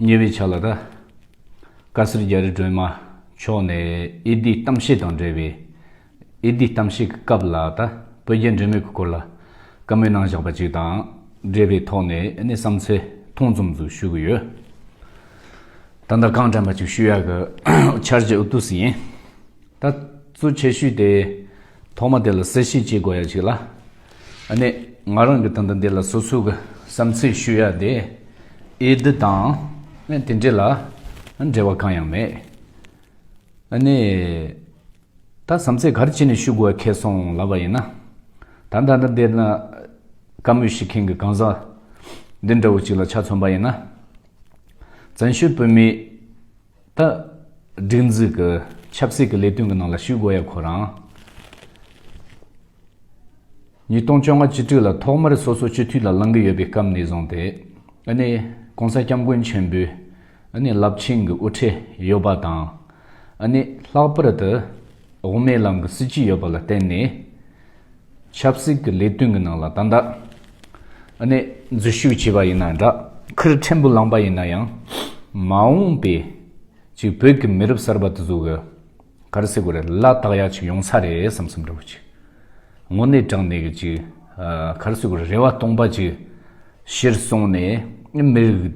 ཉེ་བའི་ཆ་ལ་ར་ཀ་སེར་རྒྱ་རི་སྒྲོལ་མ་མཆོག་ནས་ཨེ་ལྡིའི་གཏམ་བཤད་དང་འབྲེལ་བའི་ཨེ་ལྡིའི་གཏམ་བཤད་ཀྱི་སྐབས་ལ་ད་བོད་རྒྱ་འབྲེལ་མོལ་གྱི་སྐོར་ལ་བཀའ་མོལ་གནང་བཞག་པ་ཅིག་དང་འབྲེལ་བའི་ཐོག་ནས་གནས་བསམ་ཚེ་ཐུང་ཙམ་ཟུར་ཞུ་གི་ཡོད། ད་ལྟ་རྐང་དྲན་པ་ཅིག་ཞུ་ཡག་གི་འཆར་གཞི་ཨུ་ཏུ་སི་ཡིན། ད་གཙོ་ཆེ་ཤོས་དེ་ཐོག་མ་དེ་ལ་གསལ་བཤད་བྱེད་དགོས་ཡག་ཅིག་ལ། ནས་ང་རང་གི་ད་ལྟ་འདི་ལ་སོ་སོའི་གི་བསམ་ཚུལ་ཞུ་ཡ་དེ་ཨེ་འདི་དང་ནས་དེ་འདྲས་ལ་འབྲེལ་བ་གང་ཡང་མེད། ནས་ད་བསམ་ཚེ་གར་ཅི་ནས་ཞུ་དགོས་ཁེ་སོང་ལབ་པ་ཡིན་ན། ད་ད་ལྟ་འདི་ན་བཀའ་མོས་ཞིག་མཁན་གི་གང་ཟག་འདི་འདྲ་བོ་ཅིག་ལ་ཆ་མཚོན་པ་ཡིན་ན། བཙན་བྱོལ་བོད་མིའི་ད། སྒྲིག་འཛུགས་ཀྱི་ཆབ་སྲིད་ཀྱི་ལས་དོན་གྱི་ནང་ལ་ཞུགས་དགོས་ཡ་ཁོ་རང། ཉིས་སྟོང་བཅོ་ལྔ་བཅུ་དྲུག་ལ་ཐོག་མར་སོ་སོ་སྤྱི་འཐུས་ལ་ལང་གི་ཡོད་པའི་སྐབས་ནས་བཟུང་སྟེ། ནི། ྋགོང་ས ྋསྐྱབས་མགོན་ཆེན་པོའི། ནི། རླབས་ཆེན་གྱི་དབུ་ཁྲིད་ཡོད་པ་དང། ནི། ལྷག་པར་དུ། དབུ་མའི་ལམ་གྱི་སྲིད་ཇུས་ཡོད་པ་ལ་བརྟེན་ནས། ཆབ་སྲིད་ཀྱི་ལས་དོན་གྱི་ནང་ལ་ད་ལྟ་ནས་འཛུལ་ཞུགས་བྱས་པ་ཡིན་ན་འདྲ་ཁུར་ཕྲན་བུ་བླངས་པ་ཡིན་ན་ཡང་མ་འོངས་པའི་ཅིག་བོད་ཀྱི་མི་རབས་གསར་པ་དེ་ཚོ་གི་གར་སེ་གོ་རེ་བླ་དྭགས་ཡག་ཅིག་ཡོང་ས་རེད་བསམ་བསམ་འདྲ་བོ་ཅིག་དངོས་གནས་དྲང་གནས་ཀྱི་ཅིག་གར་སེ་གོ་རེ་རེ་བ་སྟོང་པ་ཅིག། གཞིར་བཟུང་ནས་མི་རིགས་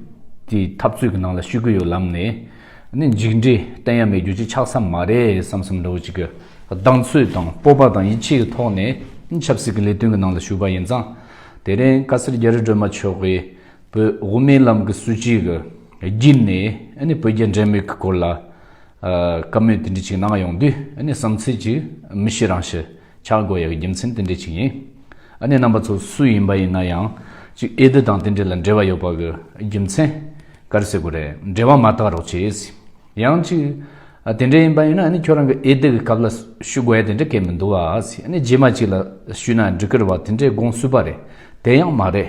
དེའི་འཐབ་རྩོད་ཀྱི་ནང་ལ་ཞུགས་ཀྱི་ཡོད་ལབ་ནས། ནི་འཇིགས་འདྲི་གཏན་ཡ་མེད་རྒྱུ་ཅི་ཆགས་ས་མ་རེད་བསམ་བསམ་འགྲོ་ཅིག་གི་གདངས་ཚོད་དང་སྤོབས་པ་དང་ཡིད་ཆེས་ཀྱི་ཐོག་ནས་ཆབ་སྲིད་ཀྱི་ལས་དོན་གྱི་ནང་ལ་ཞུགས་པ་ཡིན་ཙང། དེ་རིང་བཀའ་སེར་རྒྱ་རི་སྒྲོལ་མ་མཆོག་གིས་བོད་དབུ་མའི་ལམ་གྱི་སྲིད་བྱུས་ཀྱི་བརྒྱུད་ནས་ནི་བོད་རྒྱ་འབྲེལ་མོལ་གྱི་སྐོར་ལ། བཀའ་མོལ་དེ་འདྲ་ཅིག་གནང་ཡོང་དུས་ནི་བསམ་ཚུལ་ཅིག་མི་ཤེས་རང་ཤི། ཆག་སྒོ་ཡི་རྒྱུ་མཚན་དེ་འདྲའི་ཆིག་ཡིན། ཨ་ནེ་རྣམ་པ་ཚོ་སུ་ཡིན་པ་ཡིན་ན་ཡང། གཅིག་ཨེ་ཟླི་དང་དེ་འདྲའི་ལ་འབྲེལ་བ་ཡོད་པ་གི་རྒྱུ་མཚན། གར་སེ་གོ་རེད་འབྲེལ་བ་མ་བཏགས་རོགས་བྱེད། ཡང་གཅིག། དེ་འདྲའི་ཡིན་པ་ཡིན་ན་ཨ་ནེ་ཁྱོད་རང་གི་ཨེ་ཟླི་གི་སྐབས་ལ་ཞུ་དགོས་ཡ་དེ་འདྲ་སྐད་མི་འདུག་ཨ་ནེ་རྗེས་མ་གཅིག་ལ་ཞུས་ན་འགྲིག་གི་རེད་བ་དེ་འདྲའི་དགོངས་སུས་པ་རེད་དེ་ཡང་མ་རེད།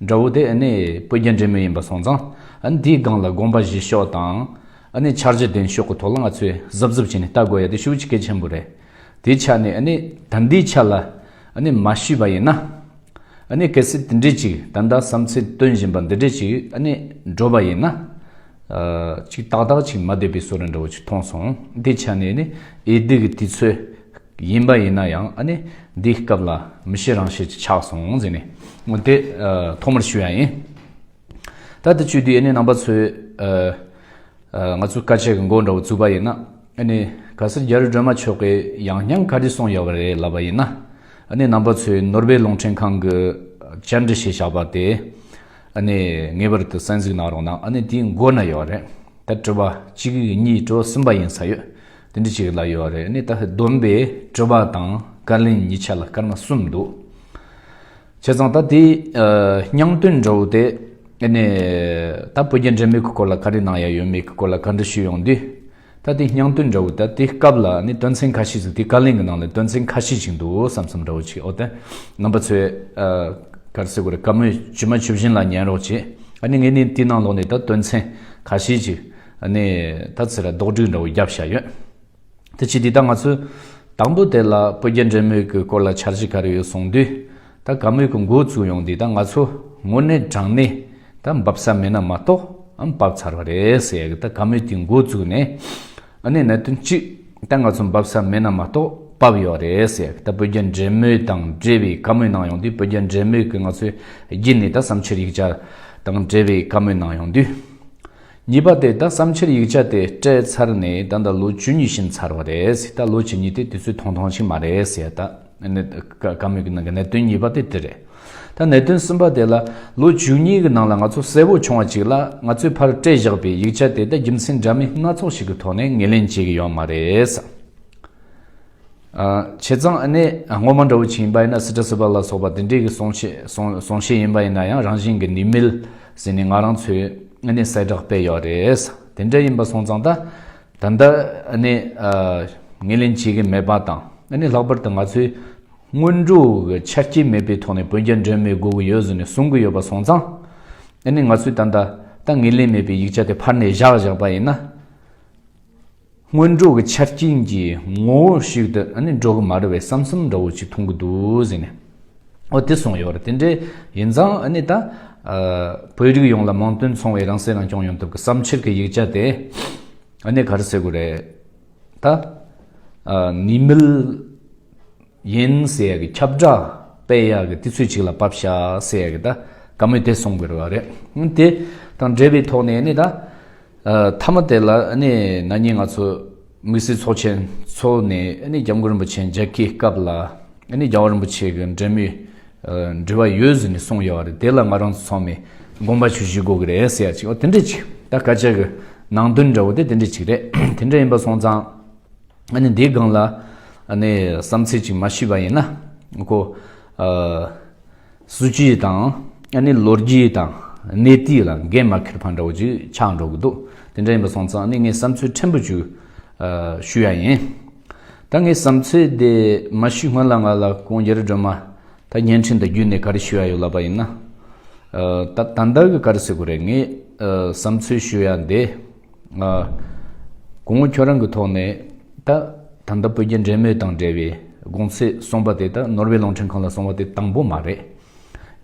དགྲ་བོ་དེ་ནི་སྤུ་རྒྱལ་འདྲེ་མོ་ཡིན་པ་སོང་ཙང། འདིའི་སྒང་ལ་དགོངས་པ་བཞེས་ཤོག་དང། འཆར་གཞི་འདོན་ཤོག་གི་ཐོག་ལ་ང་ཚོས་གཟབ་གཟབ་བྱས་ནས་ལྟ་དགོས་ཡ་དེ་ཤུགས་ཆེ་གལ་ཆེན་པོ་རེད། དེའི་ཆ་ནས་ད་འདིའི་ཆ་ལ་མ་ཞུས་པ་ཡིན་ན། གལ་སྲིད་དེ་འདྲས་ཅིག་ད་ལྟ་བསམ་ཚུལ་བཏོན་བཞིན་པ་འདི་འདྲས་ཅིག་འགྲོ་བ་ཡིན་ན། ཅིག་ཏག་ཏག་ཅིག་མ་བསྡད་པའི་བཟོ་རེ་འདྲ་བོ་ཅིག་མཐོང་སོང། དེའི་ཆ་ནས་ཨེ་སྡིག་གི་དུས་ཚོད་ཡིན་པ་ཡིན་ན་ཡང་ཨ་ནི་འདིའི་སྐབས་ལ་མི་ཤེས་རང་ཤེས་ཀྱི་ཆགས་སོང་ཟེར་ནས་ངོ་དེ་ཐོག་མར་ཞུས་ཡ་ཡིན། ད་ལྟ་བཅུ་དུས་ཨ་ནི་རྣམ་པ་ཚོས་ང་ཚོ་དཀའ་སྤྱད་ཀྱི་མགོ་འདྲ་བོ་བཙུགས་པ་ཡིན་ན་ཨ་ནི་ག་སར་རྒྱ་རི་སྒྲོལ་མ་མཆོག་གིས་ཡང་སྙིང་ཁ་དྲི་སོང་ཡོད་པ་རེད་ལབ་པ་ཡིན་ན་ཨ་ནི་རྣམ་པ་ཚོས་ནོར་བྷེལ་རླུང་འཕྲིན་ཁང་གི་བཅར་འདྲི་བྱས་བཞག་པ་དེ་ཨ་ནི་ངེས་པར་དུ་གསན་གཟིགས་གནང་རོགས་གནང་ཨ་ནི་དེའི་མགོ་ན་ཡོད་རེད་ད་དྲི་བ་གཅིག་གཉིས་དྲོ་ཟིན་པ་ཡིན་ས་ཡོད། དེ་འདྲ་ཅིག་ལ་ཡོད་རེད་ནི་ད་བསྡོམས་པས་སྤྲོ་བ་དང་དཀར་ལན་གཉིས་ཆ་ལ་སྐར་མ་གསུམ་འདུག་བྱས་ཙང་ད་དེ་སྙང་དོན་འདྲ་བོ་དེ་ནི་ད་བོད་རྒྱ་འདྲེས་མོས་ཀྱི་སྐོར་ལ་ག་རེ་གནང་ཡ་ཡོད་མེད་ཀྱི་སྐོར་ལ་ག་འདྲ་ཞུས་ཡོང་དུས་ད་དེ་སྙང་དོན་འདྲ་བོ་ད་དེ་སྐབས་ལ་ནི་དོན་ཚན་ཁ་ཤས་ཅིག་དེ་དཀར་ལན་གྱི་ནང་ལ་དོན་ཚན་ཁ་ཤས་ཅིག་འདུག་བསམ་བསམ་འདྲ་བོ་ཅིག་འོ་དེ་རྣམ་པ་ཚོས་གར་སེ་གོ་རེ་དཀར་མོས་བཅུ་མ་བཅུ་བཞིན་ལ་ཉན་རོགས་བྱས་ཨ་ནི་ངས་ནི་དེའི་ནང་ལོགས་ནས་ད་དོན་ཚན་ཁ་ཤས་ཅིག་ནས་ད་ཚེ་ལ་རྡོག་སྒྲིག་འདྲ་བོ་བརྒྱབ་བཞག་ཡོད། དེ་ཕྱིས་འདི་ལྟར་ང་ཚོས་དང་པོ་དེ་ལ་སྤོས་རྒྱ་འདྲེ་མོས་ཀྱི་སྐོར་ལ་འཆར་གཞི་ག་རེ་ཡོད་གསུངས་དུས། ད་ག་མོས་ཀྱི་མགོ་བཙུགས་ཡོང་འདི་ད་ང་ཚོ་དངོས་གནས་དྲང་གནས་ད་འབབ་ས་མེད་ན་མ་གཏོགས་ཨམ་བབ་ཚར་བ་རེད་ཟེར་ཡག་གི་ད་ག་མོས་ཀྱི་མགོ་བཙུགས་ནས། ནས་གནད་དོན་གཅིག་ད་ང་ཚོ་འབབ་ས་མེད་ན་མ་གཏོགས་བབ་ཡོག་རེད་ཟེར་ཡག་གི་ད་སྤོས་རྒྱ་འདྲེ་མོས་དང་འབྲེལ་བའི་ག་མོས་གནང་ཡོང་དུས་སྤོས་རྒྱ་འདྲེ་མོས་ཀྱི་ང་ཚོའི་རྒྱུད་ནས་ད་བསམ་འཆར་ཡིག་ཆ་དང་འབྲེལ་བའི་ག་མོས་གནང་ཡོང་དུས། གཉིས་པ་དེ་ད་བསམ་ཕྱིར་ཡིག་ཆ་དེ་སྤྲད་ཚར་ནས་ད་ད་ལོ་བཅུ་གཉིས་ཕྱིན་ཚར་བ་རེད་ད་ལོ་བཅུ་གཉིས་དེ་དུས་ཚོད་ཐུང་ཐུང་ཞིག་མ་རེད་ཟེར་ད། བཀའ་མོལ་གྱི་ནང་གི་གནད་དོན་གཉིས་པ་དེ་དེ་རེད། ད་གནད་དོན་གསུམ་པ་དེ་ལ་ལོ་བཅུ་གཉིས་ཀྱི་ནང་ལ་ང་ཚོ་གསལ་བོ་བྱུང་བ་གཅིག་ལ་ང་ཚོས་ཕར་སྤྲད་བཞག་པའི་ཡིག་ཆ་དེ་ད་རྒྱུ་མཚན་འདྲ་མིན་སྣ་ཚོགས་ཤིག་གི་ཐོག་ནས་ངེས་ལེན་བྱེད་ཀྱི་ཡོད་མ་རེད། བྱས་ཙང་ཨ་ནེ་སྔོན་མ་འདྲ་བོ་བྱིན་པ་ཡིན་ན་སི་ཏྲ་སི་པ་ལ་སོགས་པ་དེ་འདྲས་ཀྱི་གསུང་གསུང་བཤད་ཡིན་པ་ཡིན་ན་ཡང་རང་བཞིན་གྱི་ནི་མིལ་ཟེར་ནས་ང་རང་ཚོའི་ཨ་ནེ་གསལ་བསྒྲགས་སྤེལ་ཡོད་རེད་དེ་འདྲས་ཡིན་པ་སོང་ཙང་ད་ད་ལྟ་ཨ་ནེ་ངེས་ལེན་བྱེད་ཀྱི་མེད་པ་དང་ཨ་ནེ་ལྷག་པར་དུ་ང་ཚོའི་སྔོན་འགྲོ་གི་ཆ་རྐྱེན་མེད་པའི་ཐོག་ནས་བོད་རྒྱ་འབྲེལ་མེད་དགོས་ཀྱི་ཡོད་ཟེར་ནས་གསུང་གི་ཡོད་པ་སོང་ཙང་ཨ་ནེ་ང་ཚོས་ད་ད་ལྟ་ངེས་ལེན་མེད་པའི་ཡིག་ཆ་དེ་ཕར་ནས་བཞག་བཞག་པ་ཡིན་ན། སྔོན་འགྲོ་གི་ཆ་རྐྱེན་གྱི་ངོ་བོ་ཞིག་ཏུ་ནི་འགྲོ་གི་མ་རེད་བས་བསམ་བསམ་འདྲ་བོ་ཅིག་མཐོང་གི་འདུག་ཟེར་ནས་འོ་དེ་སོང་ཡོད་རེད་དེ་འདྲའི་ཡིན་ཙང་ནི་ད། བོད་རིགས་ཡོངས་ལ་མིང་དོན་མཚུངས་བའི་རང་སྲེག་རང་སྐྱོང་ཡོང་ཐབས་ཀྱི་བསམ་འཆར་གྱི་ཡིག་ཆ་དེ་ནི་ག་རེ་ཟེར་དགོས་རེད་ད། ནི་མིལ། ཡིན། ཟེར་ཡག་གི་ཁྱབ་བསྒྲགས་སྤེལ་ཡག་གི་དུས་ཚོད་ཅིག་ལ་བབས་ཤག་ཟེར་ཡག་གི་ད་ག་མུས་དེ་སོང་དགོས་རེད་བ་རེད། དེ་དང་འབྲེལ་བའི་ཐོག་ནས་ནི་ད་མཐའ་མ་དེ་ལ་ནི་ན་ནིང་ང་ཚོ་དམིགས་བསལ་ཚོགས་ཆེན་ཚོགས་ནས་ནི་རྒྱ་མགོ་རིན་པོ་ཆེ་མཇལ་ཁའི་སྐབས་ལ་ནི་རྒྱ་བ་རིན་པོ་ཆེ་གི་འབྲེལ་མོལ་འབྲེལ་བ་ཡོད་ཟེར་ནས་གསུངས་ཡོད་བ་རེད་དེ་ལ་ང་རང་ཚོ་ཚང་མས་དགོངས་པ་ཆུ་བཞི་དགོས་གི་རེད་ཟེར་ཡག་ཅིག་འོ་དེ་འདྲ་ཅིག་ད་ག་ཅག་གི་ནང་དོན་འདྲ་བོ་དེ་དེ་འདྲ་ཅིག་རེད་དེ་འདྲ་ཡིན་པ་སོང་ཙང། ང་ནི་འདིའི་སྒང་ལ་བསམ་ཚུལ་ཅིག་མ་ཤི་བ་ཡིན་ན་ཀོ། སྲིད་ཇུས་དང་ལོ་རྒྱུས་དང་གནས་དུས་ལ་འགན་མ་འཁུར་བ་འདྲ་བོ་ཅིག་ཆགས་འགྲོ་གི་འདུག་དེ་འདྲ་ཡིན་པ་སོང་ཙང་ངས་བསམ་ཚུལ་ཕྲན་བུ་ཅིག་ཞུ་ཡ་ཡིན། ད་ངའི་བསམ་ཚུལ་དེ་མ་ཤི་སྔོན་ལ་ང་ལ་ཀོང་རྒྱལ་སྒྲོལ་མ་ད་བརྙན་འཕྲིན་དུ་བརྒྱུད་ནས་ག་རེ་ཞུ་ཡ་ཡོད་ལབ་པ་ཡིན་ན། ད་ད་ལྟ་གི་ག་རེ་ཟེར་དགོས་རེད་ངས་བསམ་ཚུལ་ཞུ་ཡ་འདི། དགོང་མོ་ཁྱོད་རང་གི་ཐོག་ནས་ད་ད་ལྟ་བོད་རྒྱ་འབྲེལ་མོལ་དང་འབྲེལ་བའི་དགོང་ཚེས་གསུངས་པ་དེ་དག་ནོར་བྷེལ་གླིང་ཕྲན་ཁང་ལ་སོང་བ་དེ་དང་པོ་མ་རེད།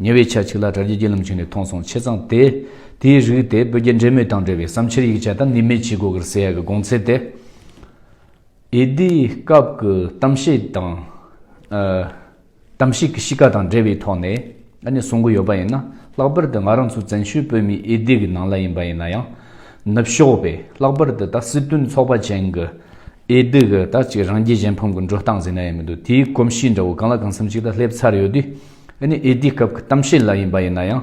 ཉེ་བའི་ཆ་གཅིག་ལ་དྲ་རྒྱའི་རྒྱུད་ལམ་ཞིག་ནས་མཐོང་སོང་ཆེ་ཚང་དེས་དེའི་རིགས་དེ་བོད་རྒྱ་འབྲེལ་མོལ་དང་འབྲེལ་བའི་བསམ་འཆར་ཡིག་ཆ་དང་ནི་མེད་ཅི་དགོས་ཀར་ཟེར་ཡ་གི་དགོང་ཚེས་དེ་ཨེ་དེའི་སྐབས་ཀྱི་གཏམ་བཤད་དང། གཏམ་གཤིས་ཀྱི་གཤིས་ཀ་དང་འབྲེལ་བའི་ཐོག་ནས་ཨ་ནེ་གསུང་གི་ཡོད་པ་ཡིན་ན་ལྷག་པར་དུ་ང་རང་ཚོ་བཙན་བྱོལ་བོད་མིའི་འོས་བསྡུས་ཀྱི་ནང་ལ་ཡིན་པ་ཡིན་ན་ཡང། ནུབ་ཕྱོགས་པས་ལྷག་པར་དུ་ད་སྲིད་དོན་ཚོགས་པ་ཅན་གྱི་འོས་བསྡུ་གི་ད་ཅིག་རང་རྒྱལ་གཞན་ཕམ་གྱི་འགྲོ་སྟངས་ཟེར་ན་ཡང་མི་འདུག་དེའི་གོམས་གཤིས་འདྲ་བོ་གང་ལ་གང་འཚམ་ཞིག་ད་སླེབས་ཚར་ཡོད་དུས་ཨ་ནེ་འོས་བསྡུའི་སྐབས་ཀྱི་གཏམ་བཤད་ལ་ཡིན་པ་ཡིན་ན་ཡང།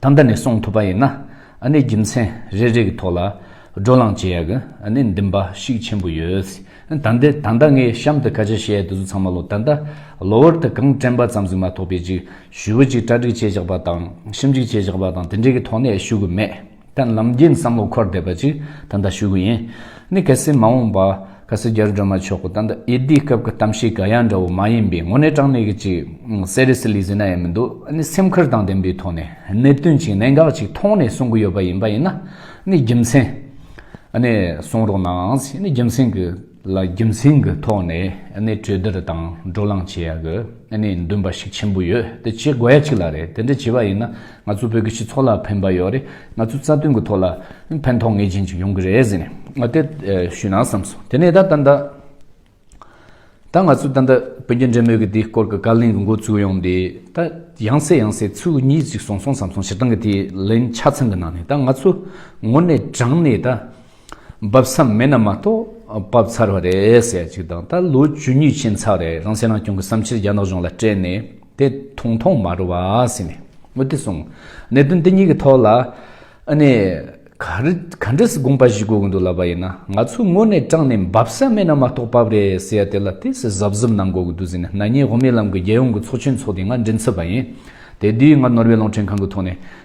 ད་འདི་ནས་གསུངས་ཐུབ་པ་ཡིན་ན་ཨ་ནི་རྒྱུ་མཚན་རེ་རེ་གི་ཐོག་ལ་བགྲོ་གླང་བྱེད་ཡག་གི་ཨ་ནི་འདི་འབའ་ཞིག་ཆེན་པོ་ཡོད། ད་འདི་ད་ལྟ་ངས་གཤམ་དུ་ཁ་ཆེ་བཤད་འདི་ཚོ་ཚང་མ་ལོ་ད་ལྟ་གློ་བུར་དུ་གང་དྲན་པ་ཙམ་ཟིག་མ་ཐོགས་པའི་ཅིག་ཞུ་བོ་ཅིག་གྲ་སྒྲིག་བྱེད་བཞག་པ་དང་ཞིབ་འཇུག་བྱེད་བཞག་པ་དང་དེ་འདྲའི་གི་ཐོག་ནས་ཞུ་གི་མེད། དང་ལམ་རྒྱུད་བསམ་བློ་འཁོར་འདེབས་པ་ཅིག་ད་ལྟ་ཞུ་གི་ཡིན། ནི་གལ་སྲིད་མ་འོངས་པ། གལ་སྲིད་རྒྱལ་སྒྲོལ་མ་མཆོག་གི་ད་ལྟ་ཡེ་འདིའི་སྐབས་ཀྱི་གཏམ་བཤད་ག་ཡ་འདྲ་བོ་མ་ཡིན་པའི་ངོ་ནས་དྲང་གནས་ཀྱི་ཅིག Seriously བཟོས་ན་ཡ་མི་འདུག་ནི་སེམས་ཁུར་དང་ལྡན་པའི་ཐོག་ནས་གནད་དོན་ཅིག་གནད་འགག་ཅིག་མཐོང་ནས་གསུང་གི་ཡོད་པ་ཡིན་པ་ཡིན་ན་ནི་རྒྱུ་མཚན་ནི་གསུང་རོགས་གནང་ནི་རྒྱུ་མཚན་གྱི། ལ་རྒྱུ་མཚན་གྱི་ཐོག་ནས་གནས་གྲོས་བསྡུར་དང་བགྲོ་གླང་བྱེད་ཡག་གནས་འདུན་པ་ཞིག་ཆེན་པོ་ཡོད་དེ་བྱེད་དགོས་ཡ་གཅིག་ལ་རེད་དེ་འདྲ་བྱེད་པ་ཡིན་ན་ང་ཚོ་བོད་ཀྱི་སྤྱི་ཚོགས་ལ་ཕན་པ་ཡོད་རེད་ང་ཚོའི་རྩ་དོན་གྱི་ཐོག་ལ་ཕན་ཐོག་ངེས་ཅན་ཅིག་ཡོང་གི་རེད་ཟེར་ནས་དེ་ཞུས་ན་བསམ་སོང་དེ་ནས་ད་ལྟ་ད་ང་ཚོས་ད་ལྟ་བོད་རྒྱ་འབྲེལ་མོལ་གྱི་དེའི་སྐོར་གྱི་བཀའ་ལན་གྱི་འགོ་ཚུགས་ཡོང་དེ་ད་ཡང་སེ་ཡང་སེ་ཚུལ་གཉིས་ཅིག་སོང་སོང་བསམ་སོང་སྤྱིར་བཏང་གི་དེའི་ལན་ཆ་ཚང་གི་ནང་ནས་ད་ང་ཚོ་ངོ་ནས་དྲངས་ནས་ད། འབབ་མཚམས་མེད་ན་མ་གཏོགས་འབབ་ཚར་བ་རེད་ཟེར་ཡ་ཅིག་དང་ད་ལོ་ཇུས་ཉུས་ཕྱིན་ཚར་བ་རེད་རང་སྲིད་རང་སྐྱོང་གི་བསམ་འཆར་རྒྱ་ནག་གཞུང་ལ་སྤྲད་ནས་དེ་ཐུང་ཐུང་མ་རུ་བ་ཟེར་ནས་མུ་མཐུད་སོང། གནད་དོན་འདི་གཉིས་ཀྱི་ཐོག་ལ་ཨ་ནེ་ག་འདྲི་སི་དགོངས་པ་ཞིག་དགོས་ཀྱི་འདུག་ལབ་པ་ཡིན་ན་ང་ཚོས་དངོས་གནས་དྲང་ནས་འབབ་མཚམས་མེད་ན་མ་གཏོགས་འབབ་རེད་ཟེར་ཡ་དེ་ལ་དེ་སི་གཟབ་གཟབ་གནང་དགོས་ཀྱི་འདུག་ཟེར་ནས་ནག་ཉེས་དབུ་མའི་ལམ་གྱི་རྒྱལ་ཡོངས་ཀྱི་ཚོགས་ཆེན་འཚོགས་དེ་ང་མགྲིན་ཚབ་པ་ཡིན། དེ་དུས་ང་ནོར་ཝེ་གླིང་ཕྲན་ཁང་གི་ཐོག་ནས་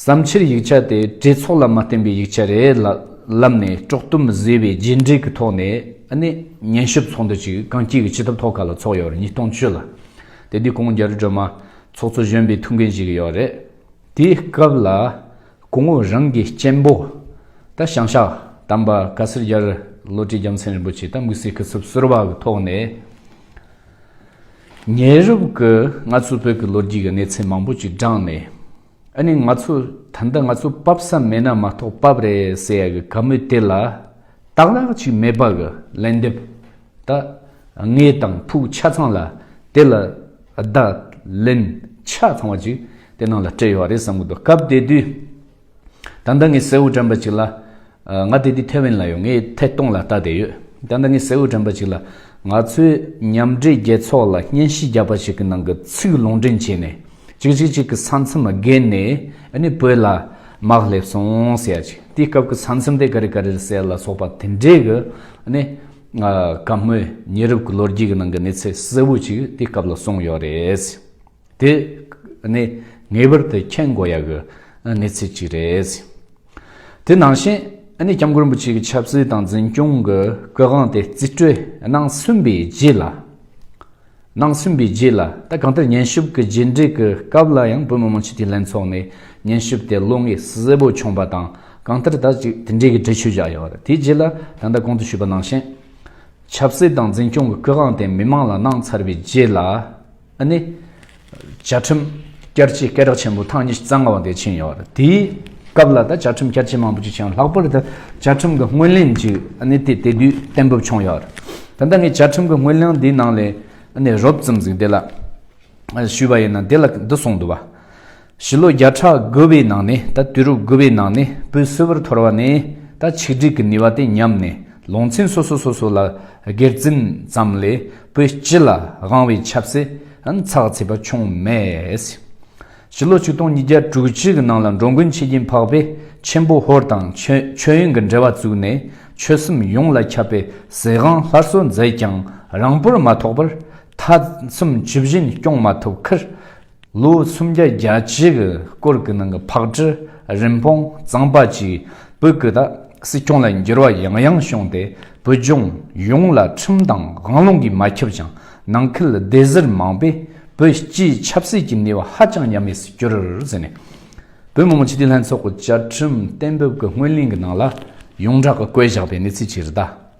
བསམ་ཕྱིར་ཡིག་ཆ་དེ་བྲེལ་ཚོགས་ལ་མ་བརྟེན་པའི་ཡིག་ཆ་རེད་ལ། ལམ་ནས་དཀྲོག་གཏུམ་བཟོས་པའི་རྗེས་འབྲེལ་གྱི་ཐོག་ནས་ནི། ཉན་ཞིབ་ཚོགས་འདུ་ཅིག་གངས་སྐྱིད་ཀྱི་སྤྱི་ཐབ་ཐོག་ཁ་ལ་ཚོགས་ཡོད་པར་ཉིས་སྟོང་བཅུ་ལ། དེ་དུས་གོང་རྒྱལ་སྒྲོལ་མ། ཚོགས་གཙོ་གཞོན་པའི་ཐུགས་འགན་བཞེས་ཀྱི་ཡོད་རེད། དེའི་སྐབས་ལ། སྐུ་ངོ་རང་གི་གཅེན་པོ། ད་ཞང་ཤག་དམ་པ་ག་སེར་རྒྱལ་བློ་གྲོས་རྒྱལ་མཚན་རིན་པོ་ཆེ་ད་དམིགས་བསལ་སྐུ་ཚབ་ཟུར་བ་གི་ཐོག་ནས། ཉེ་རབས་ཀྱི་ང་ཚོའི་བོད་ཀྱི་ལོ་རྒྱུས་ཀྱི་གནས་ཚད་མང་པོ་ཅིག་བགྲངས་ནས། ཨ་ནི་ང་ཚོ་ད་ལྟ་ང་ཚོ་བབ་ས་མེད་ན་མ་གཏོགས་བབ་རེད་ཟེར་ཡ་གི་ག་མུས་དེ་ལ་དག་ལག་ཅིག་མེད་པ་གི་ལན་འདེབས་ད་ངས་དང་ཕུག་ཆ་ཚང་ལ་དེ་ལ་བདག་ལན་ཆ་ཚང་བ་ཅིག་དེ་ནང་ལ་སྤྲད་ཡོད་རེད་བསམ་གི་འདུག་སྐབས་དེ་དུས། ད་ལྟ་ངས་སེའུ་དྲན་པ་ཅིག་ལ། ང་དེ་དུས་ཐེ་ཝན་ལ་ཡོད། ངས་ཐད་གཏོང་ལ་ལྟ་བསྡད་ཡོད། ད་ལྟ་ངས་སེའུ་དྲན་པ་ཅིག་ལ། ང་ཚོས་མཉམ་འབྲེལ་རྒྱལ་ཚོགས་ལ་སྙན་ཞུ་རྒྱག་པ་ཞིག་གི་ནང་གི་ཚིག་ལུང་འདྲེན་བྱས་ནས། ཅིག་ཅིག་ཅིག་གི་ས་མཚམས་བརྒལ་ནས་ནི་བོད་ལ་དམག་སླེབས་སོང་ཟེར་ཡ་ཅིག་དེའི་སྐབས་ཀྱི་ས་མཚམས་དེ་ཀ་རི་ཀ་རིར་གསལ་ལ་སོགས་པ་དེ་འདྲའི་གི་ནི། ག་མོད་ཉེ་རབས་ཀྱི་ལོ་རྒྱུས་ཀྱི་ནང་གི་གནས་ཚད་གསལ་བོ་ཅིག་དེའི་སྐབས་ལ་སོང་ཡོད་རེད། དེ་ནི་ངེས་པར་དུ་མཁྱེན་དགོས་ཡག་གི་གནས་ཚུལ་གཅིག་རེད། དེ་ནང་བཞིན ྋསྐྱབས་མགོན་པོ་ཆེ་གི་ཆབ་སྲིད་དང་འཛིན་སྐྱོང་གི་སྐུ་དབང་དེ་རྩིས་སྤྲོད་གནང་ཟིན་པའི་རྗེས་ལ། གནང་ཟིན་པའི་རྗེས་ལ་ད་གང་ལྟར་ཉན་ཞིབ་ཀྱི་རྗེས་འབྲེལ་གྱི་སྐབས་ལ་ཡང་བོད་མི་མང་སྤྱི་འཐུས་ལྷན་ཚོགས་ནས་ཉན་ཞིབ་དེ་བློ་ངེས་གསལ་པོ་བྱུང་པ་དང་གང་ལྟར་ད་ཅིག་དེ་འབྲེལ་གྱི་འགྲེལ་བརྗོད་བཞག་ཡོད་པ་རེད་དེའི་རྗེས་ལ་ད་ལྟ་གོང་དུ་ཞུས་པ་ནང་བཞིན ྋསྐྱབས་ཆབ་སྲིད་དང་འཛིན་སྐྱོང་གི་སྐུ་དབང་དེ་མི་མང་ལ་གནང་ཚར་བའི་རྗེས་ལ། ཨ་ནི། བཅའ་ཁྲིམས་བསྐྱར་བཅོས་སྐད་གྲགས་ཆེན་པོ་ཐེངས་ཉི་ཤུ་རྩ་ལྔ་བ་དེ་ཕྱིན་ཡོད། དེའི་སྐབས་ལ་ད་བཅའ་ཁྲིམས་བསྐྱར་བཅོས་མང་པོ་ཅིག་ཕྱིན་ཡོད། ལྷག་པར་དུ་བཅའ་ཁྲིམས་ཀྱི་སྔོན་གླེང་ཅིག་ཨ་ནི་དེ་དེ་དུས་གཏན་འབེབས་བྱུང་ཡོད། ད་ལྟ་ངས་བཅའ་ཁྲིམས་ཀྱི་སྔོན་གླེང་འདིའི་ནང་ལས་ཨ་ནི་རོབ་ཙམ་ཟིག་དེ་ལ་ཞུས་པ་ཡིན་ན་དེ་ལ་འདི་གསུངས་འདུག་བ། བཞི་ལོ་བརྒྱ་ཕྲག་དགུ་བའི་ནང་ནས་ད་དུས་རབས་དགུ་བའི་ནང་ནས་བོད་གསོ་བོར་ཐོར་བ་ནས་ད་ཆིག་སྒྲིག་གི་ནུས་བ་དེ་ཉམས་ནས་ལོང་ཚན་སོ་སོ་སོ་སོ་ལ་སྒེར་འཛིན་ཙམ་ལས་བོད་སྤྱི་ལ་དབང་བའི་ཆབ་སྲིད་ཚགས་ཚེད་པ་བྱུང་མེད། བཞི་ལོ་ཆིག་སྟོང་ཉིས་བརྒྱ་དྲུག་ཅུ་གི་ནང་ལ་འགྲོ་མགོན་ཆེ་རྒྱན་འཕགས་པས་ཆེན་པོ་ཧོར་དང་མཆོད་ཡོན་གྱི་འབྲེལ་བ་བཙུགས་ནས་ཆོལ་གསུམ་ཡོངས་ལ་ཁྱབ་པའི་ཟེ་ཧང་སླར་གསོ་མཛད་ཀྱང་རང་བོར་མ་ཐོགས་པར་མཐའ་མཚམས་བཅུ་བཞིན་སྐྱོང་མ་ཐུབ་ཁར། ལོ་སུམ་བརྒྱ་བརྒྱ་བྱེ་གི་སྐོར་གི་ནང་གི་ཕག་གྲུ་རིན་སྤུངས་གཙང་པ་གཅིག་བོད་ཀྱི་དག་སྲིད་སྐྱོང་ལ་འགྱུར་བ་ཡང་ཡང་བྱུང་སྟེ་བོད་ལྗོངས་ཡོངས་ལ་ཁྲིམས་དང་དབང་ལུང་གིས་མ་ཁྱབ་ཅིང་ནང་ཁུལ་སྡེ་གཟར་མང་པས་བོད་སྤྱིའི་ཆབ་སྲིད་ཀྱི་ནུས་བ་ཧ་ཅང་ཉམས་དམས་སུ་གྱུར་ཟིན་ནས། བོད་མི་མང་སྤྱི་འཐུས་ལྷན་ཚོགས་ཀྱི་བཅའ་ཁྲིམས་གཏན་འབེབས་ཀྱི་སྔོན་གླེང་གི་ནང་ལ་ཡོངས་གྲགས་ཀྱི་བཀོད་བཞག་པའི་གནས་ཚུལ་གྱི་རིགས་དག།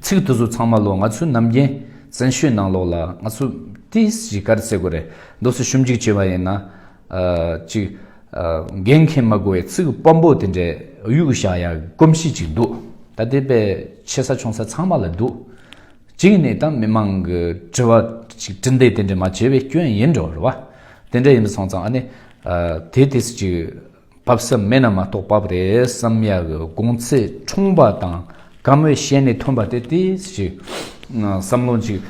ཚིག་དེ་ཚོ་ཚང་མ་ལོ་ང་ཚོའི་ནམ་རྒྱན་བཙན་ཤོས་ནང་ལོགས་ལ་ང་ཚོ་དེ་གཞིས་སྒར་བཙལ་དགོས་རེད་མདོ་སོ་ཞུམ་གཅིག་བྱེད་པ་ཡིན་ན་ཅིག་རྒན་མཁན་མ་དགོས་བའི་ཚིག་སྤམ་པོ་དེ་འདྲས་གཡུག་བཞག་ཡ་གོམས་གཤིས་ཅིག་འདུག་ད་ལྟའི་པའི་ཆེ་ས་ཆུང་ས་ཚང་མ་ལ་འདུག་གཅིག་ནས་ད་མི་མང་གི་དྲི་བ་ཅིག་དྲི་འདེད་དེ་འདྲས་མ་བྱེད་པའི་སྐྱོན་ཡིན་འགྲོ་རེད་བ་དེ་འདྲས་ཡིན་པ་སོང་ཙང་ཨ་ནི་དེ་དེ་སུ་ཅིག་བབ་ས་མེད་ན་མ་གཏོགས་བབ་རེད་བསམ་ཡག་གི་དགོངས་ཚད་ཆུང་བ་དང་དགའ་མོས་གཞན་ནས་ཐོན་པ་དེ་དེ་ཞིག་བསམ་བློ་ཅིག་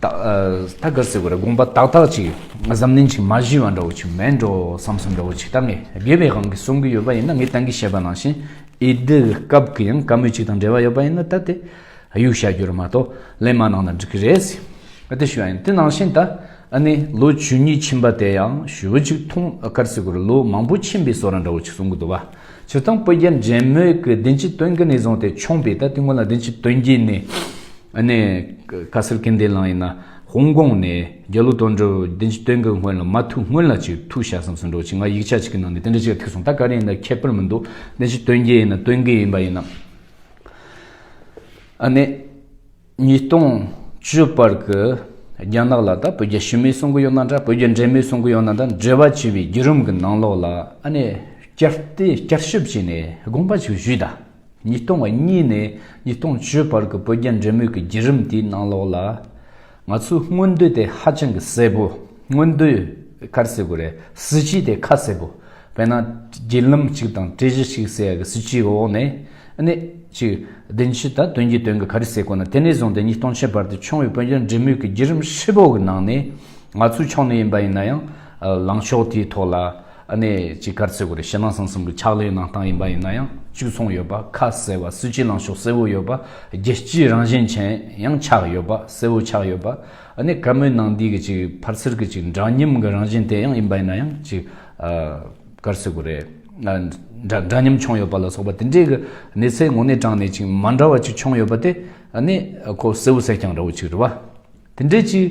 ད་ག་ཟེ་བོ་རེད་དགོངས་པ་དག་དག་ཅིག་གཟབ་ནན་ཅིག་མ་གཞི་བ་འདྲ་བོ་ཅིག་མེད་འགྲོ་བསམ་སོ་འདྲ་བོ་ཅིག་ད་ངས་དགེ་བའི་དབང་གིས་གསུང་གི་ཡོད་པ་ཡིན་ན་ངས་གཏན་གྱི་བཤད་པ་ནང་བཞིན་ཨེ་འདུག་སྐབས་གི་ཡང་དགའ་མོས་ཅིག་དང་འབྲེལ་བ་ཡོད་པ་ཡིན་ན་ད་དེ་ཨ་ཡུག་བཤད་རྒྱུ་རེད་མ་གཏོགས་གླེང་མ་གནང་ན་འགྲིག་གི་རེད། ཨ་ཏི་ཞུ་ཨན་ཏི་ནང་བཞིན་ད་ཨ་ནི་ལོ་བཅུ་གཉིས་ཕྱིན་པ་དེ་ཡང་ཞུ་བོ་ཅིག་ཐུང་ཨ་ཀར་སི་གུར་ལོ་མང་པོ་ཕྱིན་པའི་བསོ་ར་འདྲ་བོ་ཅིག་གསུང་གི་འདུག་བ་ཆུ་ཐང་སྤོས་རྒྱ་འདྲེན་མོད་ཀི་དིན་ཅི་དོན་གི་ནས་བཟུང་སྟེ་ཆོངས་པའི་ད་ཨ་ཏི་སྔོན་ལ་དིན་ཅི་དོན་གྱི་ནས་ཨ་ནི་ཀ་སིར་ཀིན་དེ་ལང་ཡིན་ན་ཧོང་ཀོང་ནས་རྒྱ་ལོ་དོན་འགྲོ་དིན་ཅི་དོན་གི་སྔོན་ལ་མ་ཐུག་སྔོན་ལ་ཅིག་ཐུག་བྱ་བསམ་སོང་འགྲོ་ཅིག་ང་ཡིག་ཆ་ཅིག་གི་ནང་ནས་དེ་འདྲ་ཅིག་ཐིག་སོང་ད་ག་རེ་ཡིན་ད་ཁྱད་པར་མི་འདུག་དིན་ཅི་དོན་གྱི་ཡིན་ན་དོན་གི་ཡིན་པ་ཡིན་ན། ཨ་ནེ། ཉིས་སྟོང་བཅུ་པར་གྱི་རྒྱ་ནག་ལ་ད་བོད་རྒྱ་ཞུམ་མེད་གསུང་གི་ཡོད་ན་འདྲ་བོད་རྒྱ་འབྲེལ་མེད་གསུང་གི་ཡོད་ན་འདྲ་འབྲེལ་བ་བྱས་པའི་བརྒྱུད་རིམ་གྱི་ནང་ལོགས་ལ་ཨ་ནེ་བསྐྱར་བལྟས་བསྐྱར་ཞིབ་བྱས་ནས་དགོངས་པ་ཞིག་ཞུས་ད། ཉིས་སྟོང་གཉིས་ནས་ཉིས་སྟོང་བཅུ་བར་གྱི་བོད་རྒྱ་འབྲེལ་མོལ་གྱི་བརྒྱུད་རིམ་དེའི་ནང་ལོགས་ལ། ང་ཚོའི་སྔོན་འདོད་དེ་ཧ་ཅང་གི་གསལ་པོ། སྔོན་འདོད་གར་སེ་གོ་རེད། སྲིད་སྤྱི་དེ་ཁ་གསལ་པོ། དཔེར་ན། བརྒྱུད་ལམ་གཅིག་དང་གྲས་གཞི་གཅིག་ཟེར་ཡག་གི་སྲིད་སྤྱིའི་འོག་ནས། ནས། ཅིག། བདེན་སྤྱི་དང་དོན་གྱི་དོན་གྱི་གར་སེ་གོ་ན་དེ་ནས་བཟུང་སྟེ་ཉིས་སྟོང་ཆའི་བར་དུ་བྱུང་བའི་བོད་རྒྱ་འབྲེལ་མོལ་གྱི་བརྒྱུད་རིམ་ཧྲིལ་པོ་གི་ནང་ནས། ང་ཚོའི་ཕྱོགས་ནས་ཡིན་པ་ཡིན་ན་ཡང། ལངས་ཕྱོགས་དེའི་ཐོག་ལ། ཨ་ནེ་ཅི་གར་ཚེ་གོ་རེ་ཤི་ན་སང་གསུམ་གི་ཕྱག་ལས་གནང་སྟངས་ཡིན་པ་ཡིན་ན་ཡང་བཅུ་ཚོང་ཡོད་པ་ཁ་གསལ་བ་སུ་སྐྱིད་ལངས་ཕྱོགས་གསལ་བོ་ཡོད་པ་རྒྱལ་སྤྱིའི་རང་བཞིན་ཅན་ཡང་ཆགས་ཡོད་པ་གསལ་བོ་ཆགས་ཡོད་པ་ཨ་ནེ་ག་མོའི་ནང་འདི་གི་ཅིག་ཕར་ཚུར་གི་ཅིག་འདྲ་མཉམ་གི་རང་བཞིན་དེ་ཡང་ཡིན་པ་ཡིན་ན་ཡང་ཅིག་ཨ་གར་ཚེ་གོ་རེ་འདྲ་འདྲ་མཉམ་བྱུང་ཡོད་པ་ལ་སོགས་པ་དེ་འདྲའི་གི་གནས་ཚད་ངོ་ནས་དྲངས་ནས་ཅིག་མ་འདྲ་བ་ཅིག་བྱུང་ཡོད་པ་དེ་ཨ་ནེ་ཁོ་གསལ་བོ་གསལ་རྐྱང་ར་བོ་ཅིག་རེད་བ། དེ་འདྲའི་ཅིག།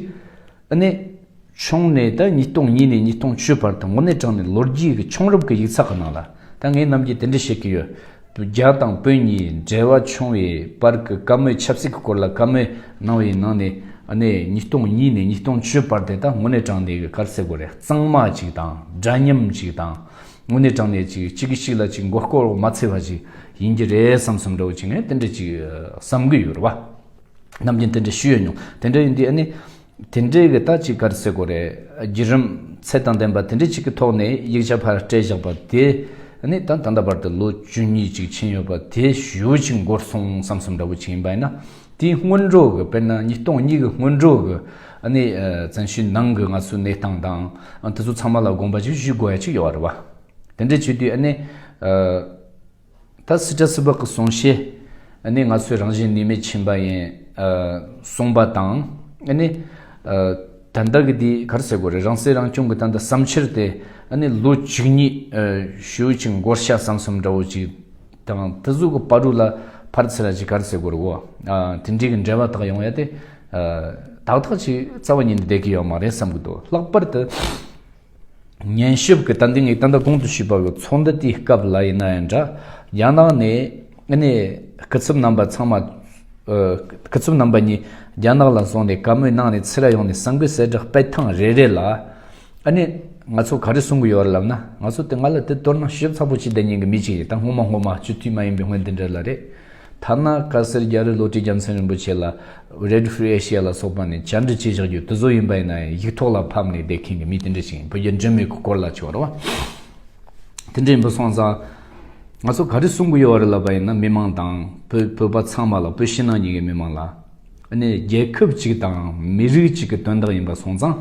ཨ་ནེ། ཆུང་ནས་ད་ཉིས་སྟོང་གཉིས་ནས་ཉིས་སྟོང་བཅུའི་བར་དུ་ངོ་གནས་དྲངས་ནས་ལོ་རྒྱུས་ཀྱི་ཆུང་རབས་ཀྱི་ཡིག་ཚགས་གི་ནང་ལ་ད་ངེད་རྣམས་ཀྱིས་དེ་འདྲ་བཤད་ཀྱི་ཡོད། རྒྱ་དང་དཔོན་གཉིས་འབྲེལ་བ་ཆུང་བའི་བར་གྱི་བཀའ་མོལ་ཆབ་སྲིད་ཀྱི་སྐོར་ལ་བཀའ་མོལ་གནང་བའི་ནང་ནས་ཨ་ནེ། ཉིས་སྟོང་གཉིས་ནས་ཉིས་སྟོང་བཅུའི་བར་དེ་ད་ངོ་གནས་དྲངས་ནས་གི་གར་སའི་སྒོ་རེ་གཙང་མ་ཅིག་དང་འདྲ་མཉམ་ཅིག་དང་ངོ་གནས་དྲངས་ནས་ཅིག་གཅིག་གིས་གཅིག་ལ་ཅིག་མགོ་སྐོར་མ་འཚལ་བ་ཅིག་ཡིན་གྱི་རེད་བསམ་བསམ་འདྲ་བོ་ཅིག་ངས་དེ་འདྲ་ཅིག་བསམ་གྱི་ཡོད་རེད་བ། རྣམས་ཀྱིས་དེ་འདྲ་ཞུས་ཡོད་མྱོང། དེ་འདྲ་ཡིན་དུས་ཨ་ནི། དེ་འདྲའི་གི་ད་ཅིག་ག་རེ་ཟེར་དགོས་རེད། བརྒྱུད་རིམ་ཚད་དང་ལྡན་པ་དེ་འདྲ་ཅིག་གི་ཐོག་ནས་ཡིག་ཆ་ཕར་སྤྲད་བཞག་པ་དེ་ནི་ད་ད་ལྟ་བར་དུ་ལོ་བཅུ་གཉིས་ཅིག་ཕྱིན་ཡོད་པ་དེ་ཞུ་ཅིག་འགོར་སོང་བསམ་བསམ་འདྲ་བོ་ཅིག་ཡིན་པ་ཡིན་ན། དེའི་སྔོན་འགྲོ་གི་དཔེར་ན་ཉིས་སྟོང་གཉིས་གི་སྔོན་འགྲོ་གི་ཨ་ནི་བཙན་ཤུལ་ནང་གི་ང་ཚོའི་གནས་སྟངས་དང། དེ་ཚོ་ཚང་མ་ལ་དགོངས་པ་ཅིག་ཞུས་དགོས་ཡ་ཅིག་ཡོད་རེད་བ། དེ་འདྲ་བྱས་དུས་ཨ་ནི། ད་སི་ཏྲ་སི་བག་གི་གསུང་བཤད་ནི་ང་ཚོའི་རང་བཞིན་ནུས་མེད་ཕྱིན་པ་ཡིན། གསུངས་པ་དང་ནི། ད་ལྟ་གི་དེ་གར་ཟེར་དགོས་རེད་རང་སྲིད་རང་སྐྱོང་གི་ད་ལྟ་བསམ་འཆར་དེ་ནི་ལོ་གཅིག་གཉིས་ཞོའི་ཅིག་མགོར་ཤ་བསམ་བསམ་འདྲ་བོ་ཅིག་དང་ད་གཟུགས་ཀྱི་པར་རུ་ལ་ཕར་ཚེ་ར་ཅིག་གར་ཟེར་དགོས་རེད་བོ། དེ་འདྲའི་གི་འབྲེལ་བ་དག་ཡོང་ཡ་དེ། དག་དག་ཅིག་རྩ་བ་ཉིད་ནས་བསྡད་ཀྱི་ཡོད་མ་རེད་བསམ་གྱི་འདུག་ལྷག་པར་དུ། ཉན་ཞིབ་ཀྱི་ཏན་ཏིང་ངེས་གཏན་དུ་གོང་དུ་ཞུས་པ་གྱི་ཚོགས་འདུ་དེའི་སྐབས་ལ་ཡིན་ན་ཡང་འདྲ། རྒྱ་ནག་ནས་ནས་སྐུ་ཚབ་རྣམ་པ་ཚང་མ། སྐུ་ཚབ་རྣམ་པ་གཉིས་རྒྱ་ནག་ལ་སོང་ནས་བཀའ་མོལ་གནང་ནས་ཚེ་རབས་ཡོངས་ནས་གསང་དགོས་གསལ་བསྒྲགས་སྤེལ་ཐེངས་རེ་རེ་ལ། ནས་ང་ཚོ་ག་རེ་གསུང་གི་ཡོད་རེད་ལབ་ན་ང་ཚོ་དེ་ང་ལ་དེ་ལྟོས་ན་ཞིབ་ཚགས་པོ་བྱེད་བསྡད་ཉན་གྱི་མི་ཅིག་རེད་ད་སྔོན་མ་སྔོན་མ་སྤྱི་འཐུས་མ་ཡིན་པའི་སྔོན་དེ་འདྲ་ལ་རེད། ཐ་ན་བཀའ་གསེར་རྒྱ་རི་ལོ་ཀྲི་རྒྱལ་མཚན་རིན་པོ་ཆེ་ལ Red Free Asia ལ་སོགས་པ་ནས་བཅར་འདྲི་བྱེད་བཞག་རྒྱུ་དེ་ཚོ་ཡིན་པ་ཡིན་ན་ཡང་ཡིག་ཐོག་ལ་ཕབ་ནས་བསྡད་མཁན་གྱི་མི་དེ་འདྲ་ཞིག་ཡིན་བོད་རྒྱ་འདྲེས་མོའི་གི་སྐོར་ལ་བྱས་བ་རེད་བ། དེ་འདྲ་ཡིན་པ་སོང་ཙང་ང་ཚོ་ག་རེ་གསུང་གི་ཡོད་བ་རེད་ལབ་པ་ཡིན་ན་མི་མང་དང་བོད་བོད་པ་ཚང་མ་ལ་བོད་ཕྱི་ནང་གཉིས་ཀྱི་མི་མང་ལ་ནི་རྒྱལ་ཁབ་ཅིག་དང་མི་རིགས་ཅིག་གི་དོན་དག་ཡིན་པ་སོང་ཙང།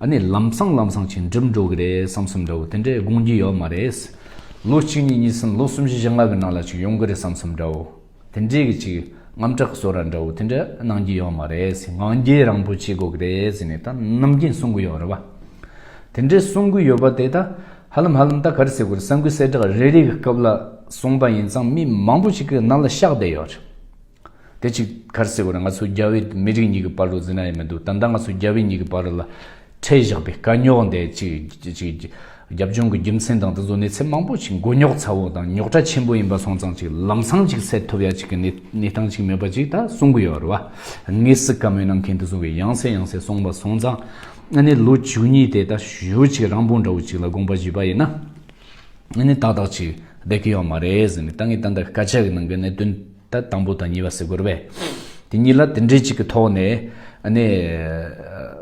ཨ་ནི་ལམ་སང་ལམ་སང་ཆེ་འགྲིབ་འགྲོ་གི་རེད་བསམ་སོང་འདྲ་བོ་དེ་འདྲས་དགོངས་ཀྱི་ཡོད་མ་རེད། ལོ་གཅིག་གཉིས་གཉིས་གསུམ་ལོ་གསུམ་བཞི་བཞི་ལྔ་གི་ནང་ལ་ཅིག་ཡོང་གི་རེད་བསམ་སོང་འདྲ་བོ་དེ་འདྲས་ཀྱི་ཅིག་རྔམ་སྐྲག་གི་སོ་ར་འདྲ་བོ་དེ་འདྲས་གནང་གྱི་ཡོད་མ་རེད་ངང་རྒྱལ་རང་བོ་བྱེད་དགོས་ཀྱི་རེད་ཟེར་ནས་ད་ནམ་རྒྱུན་གསུང་གི་ཡོད་རེད་བ། དེ་འདྲས་གསུང་གི་ཡོད་པ་དེ་ད་ཧ་ལམ་ཧ་ལམ་ད་ག་རེ་ཟེར་དགོས་རེད་ས་འགུལ་གསལ་བསྒྲགས་རེ་རེ་གི་སྐབས་ལ་གསུང་པ་ཡིན་ཙང་མི་མང་བོ་ཅིག་གི་ནང་ལ་ཤག་བསྡད་ཡོད་རེད། དེ་ཅིག་གར་སེ་བར་ང་ཚོ་རྒྱ་བོད་མི་རིགས་གཉིས་ཀྱི་བར་རུ་ཟིན་ན་ཡང་མི་འདུག་ད་ལྟ་ང་ཚོ་རྒྱ་བོད་གཉིས་ཀྱི་བར་རུ་ལ་ཁྲལ་བཞག་པའི་དཀའ་རྙོག་འདི་ཅིག་རྒྱབ་ལྗོངས་ཀྱི་རྒྱུ་མཚན་དང་དེ་ཚོ་གནས་ཚད་མང་པོ་ཞིག་མགོ་རྙོག་ཚ་བོ་དང་རྙོག་དྲ་ཆེན་པོ་ཡིན་པ་སོང་ཙང་ཅིག་ལམ་སང་ཅིག་སེལ་ཐུབ་ཡ་ཅིག་གི་གནས་སྟངས་ཅིག་མེད་པ་ཅིག་ད་གསུང་གི་ཡོད་རེད་བ། ངས་སི་ཀ་མོའི་གནང་མཁན་དེ་ཚོ་གིས་ཡང་སེ་ཡང་སེ་གསུང་པ་སོང་ཙང་ཨ་ནི་ལོ་བཅུ་གཉིས་དེ་ད་ཞུ་ཅིག་རང་དཔུང་འདྲ་བོ་ཅིག་ལ་དགོངས་པ་བཞེས་པ་ཡིན་ན་ཨ་ནི་ཏག་ཏག་ཅིག་བསྡད་ཀི་ཡོད་མ་རེད་ཟེར་ནས་ད་ངས་ཏན་ཏན་སྐད་ཆ་གི་ནང་གི་གནད་དོན། ད་དང་པོ་དང་གཉིས་པ་ཟེར་དགོས་རེད་པས། དེ་གཉིས་ལ་དེ་འདྲའི་གཅིག་གི་ཐོག་ནས་ནས་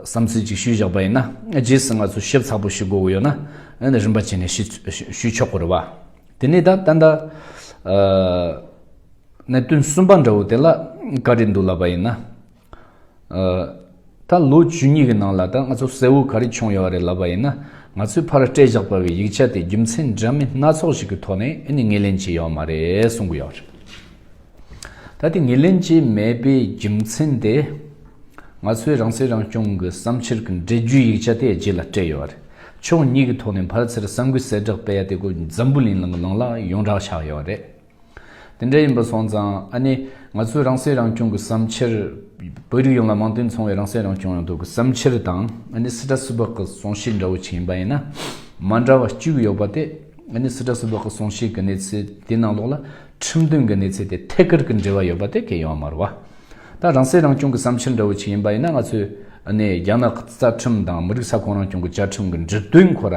བསམ་ཚུལ་གཅིག་ཞུས་བཞག་པ་ཡིན་ན་རྗེས་སུ་ང་ཚོ་ཞིབ་ཚགས་པོ་ཞིག་དགོས་དགོས་ཡོད་ན་ནས་རིམ་པ་བྱས་ནས་ཞུས་ཆོག་གོ་རེད་པ། དེ་ནས་ད་ད་ད། གནད་དོན་གསུམ་པ་འདྲ་བོ་དེ་ལ་བཀའ་དྲིན་འདུག་ལབ་པ་ཡིན་ན། ད་ལོ་བཅུ་གཉིས་ཀྱི་ནང་ལ་ད་ང་ཚོ་གསལ་བོ་ག་རེ་བྱུང་ཡོད་རེད་ལབ་པ་ཡིན་ན། ང་ཚོས་ཕར་སྤྲད་བཞག་པ་བའི་ཡིག་ཆ་དེ་རྒྱུ་མཚན་འདྲ་མིན་སྣ་ཚོགས་ཞིག་གི་ཐོག་ནས་ཨེ་ནི་ངེས་ལེན་བྱས་ཡོད་མ་རེད་གསུང་གི་ཡོད་རེད། ད་དེ་ངེས་ལེན་བྱས་མེད་པའི་རྒྱུ་མཚན་དེ། ང་ཚོས་རང་སྲིད་རང་སྐྱོང་གི་བསམ་འཆར་གྱི་འགྲེལ་བརྗོད་ཡིག་ཆ་དེ་རྗེས་ལ་སྤྲད་ཡོད་རེད། ཕྱོགས་གཉིས་ཀྱི་ཐོག་ནས་ཕར་ཚེར་ས་འགུལ་གསལ་བསྒྲགས་སྤེལ་ཡ་དེ་ཀོ་འཛམ་བུ་གླིང་ལ་ཡོངས་གྲགས་ཆགས་ཡོད་རེད། དེ་འདྲ་ཡིན་པ་སོང་ཙང་ཨ་ནི། ང་ཚོའི་རང་སྲེག་རང་སྐྱོང་གི་བསམ་འཆར། བོད་རིགས་ཡོངས་ལ་མང་དུ་འཚོང་བའི་རང་སྲེག་རང་སྐྱོང་ཡོང་ཐབས་ཀྱི་བསམ་འཆར་དང་ཨ་ནི་སི་ཏྲ་སུལ་པག་གི་གསུང་བཤད་འདྲ་བོ་ཆེ་ཡིན་པ་ཡིན་ན། མ་འདྲ་བ་བཅུ་ཡོད་པ་སྟེ། ཨ་ནི་སི་ཏྲ་སུལ་པག་གི་གསུང་བཤད་ཀྱི་གནས་ཚུལ་དེའི་ནང་ལོགས་ལ་ཁྲིམས་དོན་གྱི་གནས་ཚུལ་དེ་ཐད་ཀར་གྱི་འབྲེལ་བ་ཡོད་པ་དེ་གལ་ཡོང་བ་མ་རུ་བ། ད་རང་སྲེག་རང་སྐྱོང་གི་བསམ་འཆར་འདྲ་བོ་ཆེ་ཡིན་པ་ཡིན་ན་ང་ཚོས་ཨ་ནི་རྒྱ་ནག་གི་རྩ་ཁྲིམས་དང་མི་རིགས་ས་ཁོངས་རང་སྐྱོང་གི་བཅའ་ཁྲིམས་ཀྱི་འབྲུ་དོན་ཁོ་ར་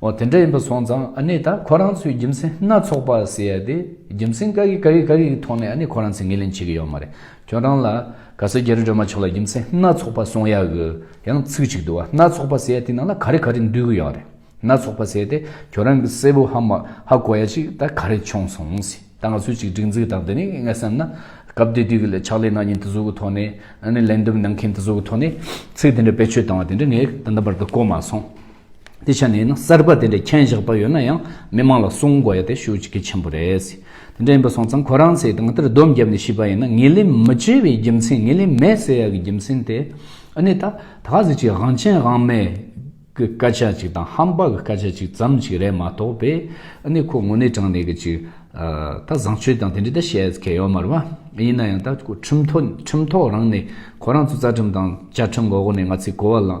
འོ་དེ་འདྲ་ཡིན་པ་སོང་ཙང་ཨ་ནི་ད་ཁོ་རང་ཚོའི་རྒྱུ་མཚན་སྣ་ཚོགས་པ་ཟེར་ཡ་དེ་རྒྱུ་མཚན་ག་གི་ག་གི་ག་གིའི་ཐོག་ནས་ཨ་ནི་ཁོ་རང་ཚོས་ངེས་ལེན་བྱེད་ཀྱི་ཡོད་མ་རེད་ཁྱོད་རང་ལ་ག་ས་རྒྱ་རི་སྒྲོལ་མ་མཆོག་ལ་རྒྱུ་མཚན་སྣ་ཚོགས་པ་གསུང་ཡ་གི་ཡང་ཚིག་ཅིག་འདུག་སྣ་ཚོགས་པ་ཟེར་ཡ་དེ་ནང་ལ་ག་རེ་ག་རེ་འདུས་གི་ཡོད་རེད་སྣ་ཚོགས་པ་ཟེར་ཏེ་ཁྱོད་རང་གི་སྲས་པོ་ཧ་མ་ཧ་གོ་ཡ་ཅིག་ད་ག་རེ་བྱུང་སོང་ཟེར་ད་ང་ཚོས་ཅིག་སྒྲིག་འཛུགས་དང་དེ་ནས་ངས་བསམ་ན་སྐབས་དེ་དུས་ཀྱི་ལས་ཕྱག་ལས་གནང་མཁན་དེ་ཚོ་གི་ཐོག་ནས་ཨ་ནི་ལན་འདེབས་གནང་མཁན་དེ་ཚོ་གི་ཐོག་ནས་ཚིག་དེ་འདྲ་བེད་སྤྱོད་བཏང་བ་དེ་འདྲ་ངས་ད་ལྟ་བར་དུ་གོ་མ་སོང། དེ་ཆ་ནས་ཡིན་ན་གསར་པ་དེ་འདྲའི་མཁྱེན་བཞག་པ་ཡོད་ན་ཡང་མི་མང་ལ་གསུང་དགོས་ཡ་དེ་ཤུགས་ཀྱི་གལ་ཆེན་པོ་རེད། དེ་འདྲ་ཡིན་པ་སོང་ཙང་ཁོ་རང་ཚེ་དང་དེར་སྡོམ་བརྒྱབ་ནས་ཤི་བ་ཡིན་ན་ངེས་ལེན་མི་བྱེད་པའི་རྒྱུ་མཚན་ངེས་ལེན་མེད་ཟེར་ཡག་གི་རྒྱུ་མཚན་དེ་ཨ་ནེ་ད་ད་ག་ཟིག་ཅིག་དབང་ཆེན་དབང་མེད་གི་སྐད་ཆ་ཅིག་དང་ཧམ་པ་གི་སྐད་ཆ་ཅིག་ཙམ་ཅིག་རེད་མ་གཏོགས་པས་ཨ་ནེ་ཁོ་ངོ་ནས་དྲང་གནས་གི་ཅིག་ད་བཟང་སྤྱོད་དང་དེ་འདྲའི་ད་བཤད་མཁན་ཡོད་མ་རེད་བ། ཡིན་ན་ཡང་ད་ཁོ་ཁྲིམས་ཐོག་ཁྲིམས་ཐོག་རང་ནས་ཁོ་རང་ཚོ་རྩ་ཁྲིམས་དང་བཅའ་ཁྲིམས་འགོག་ནས་ང་ཚོས་གོ་བ་ལང།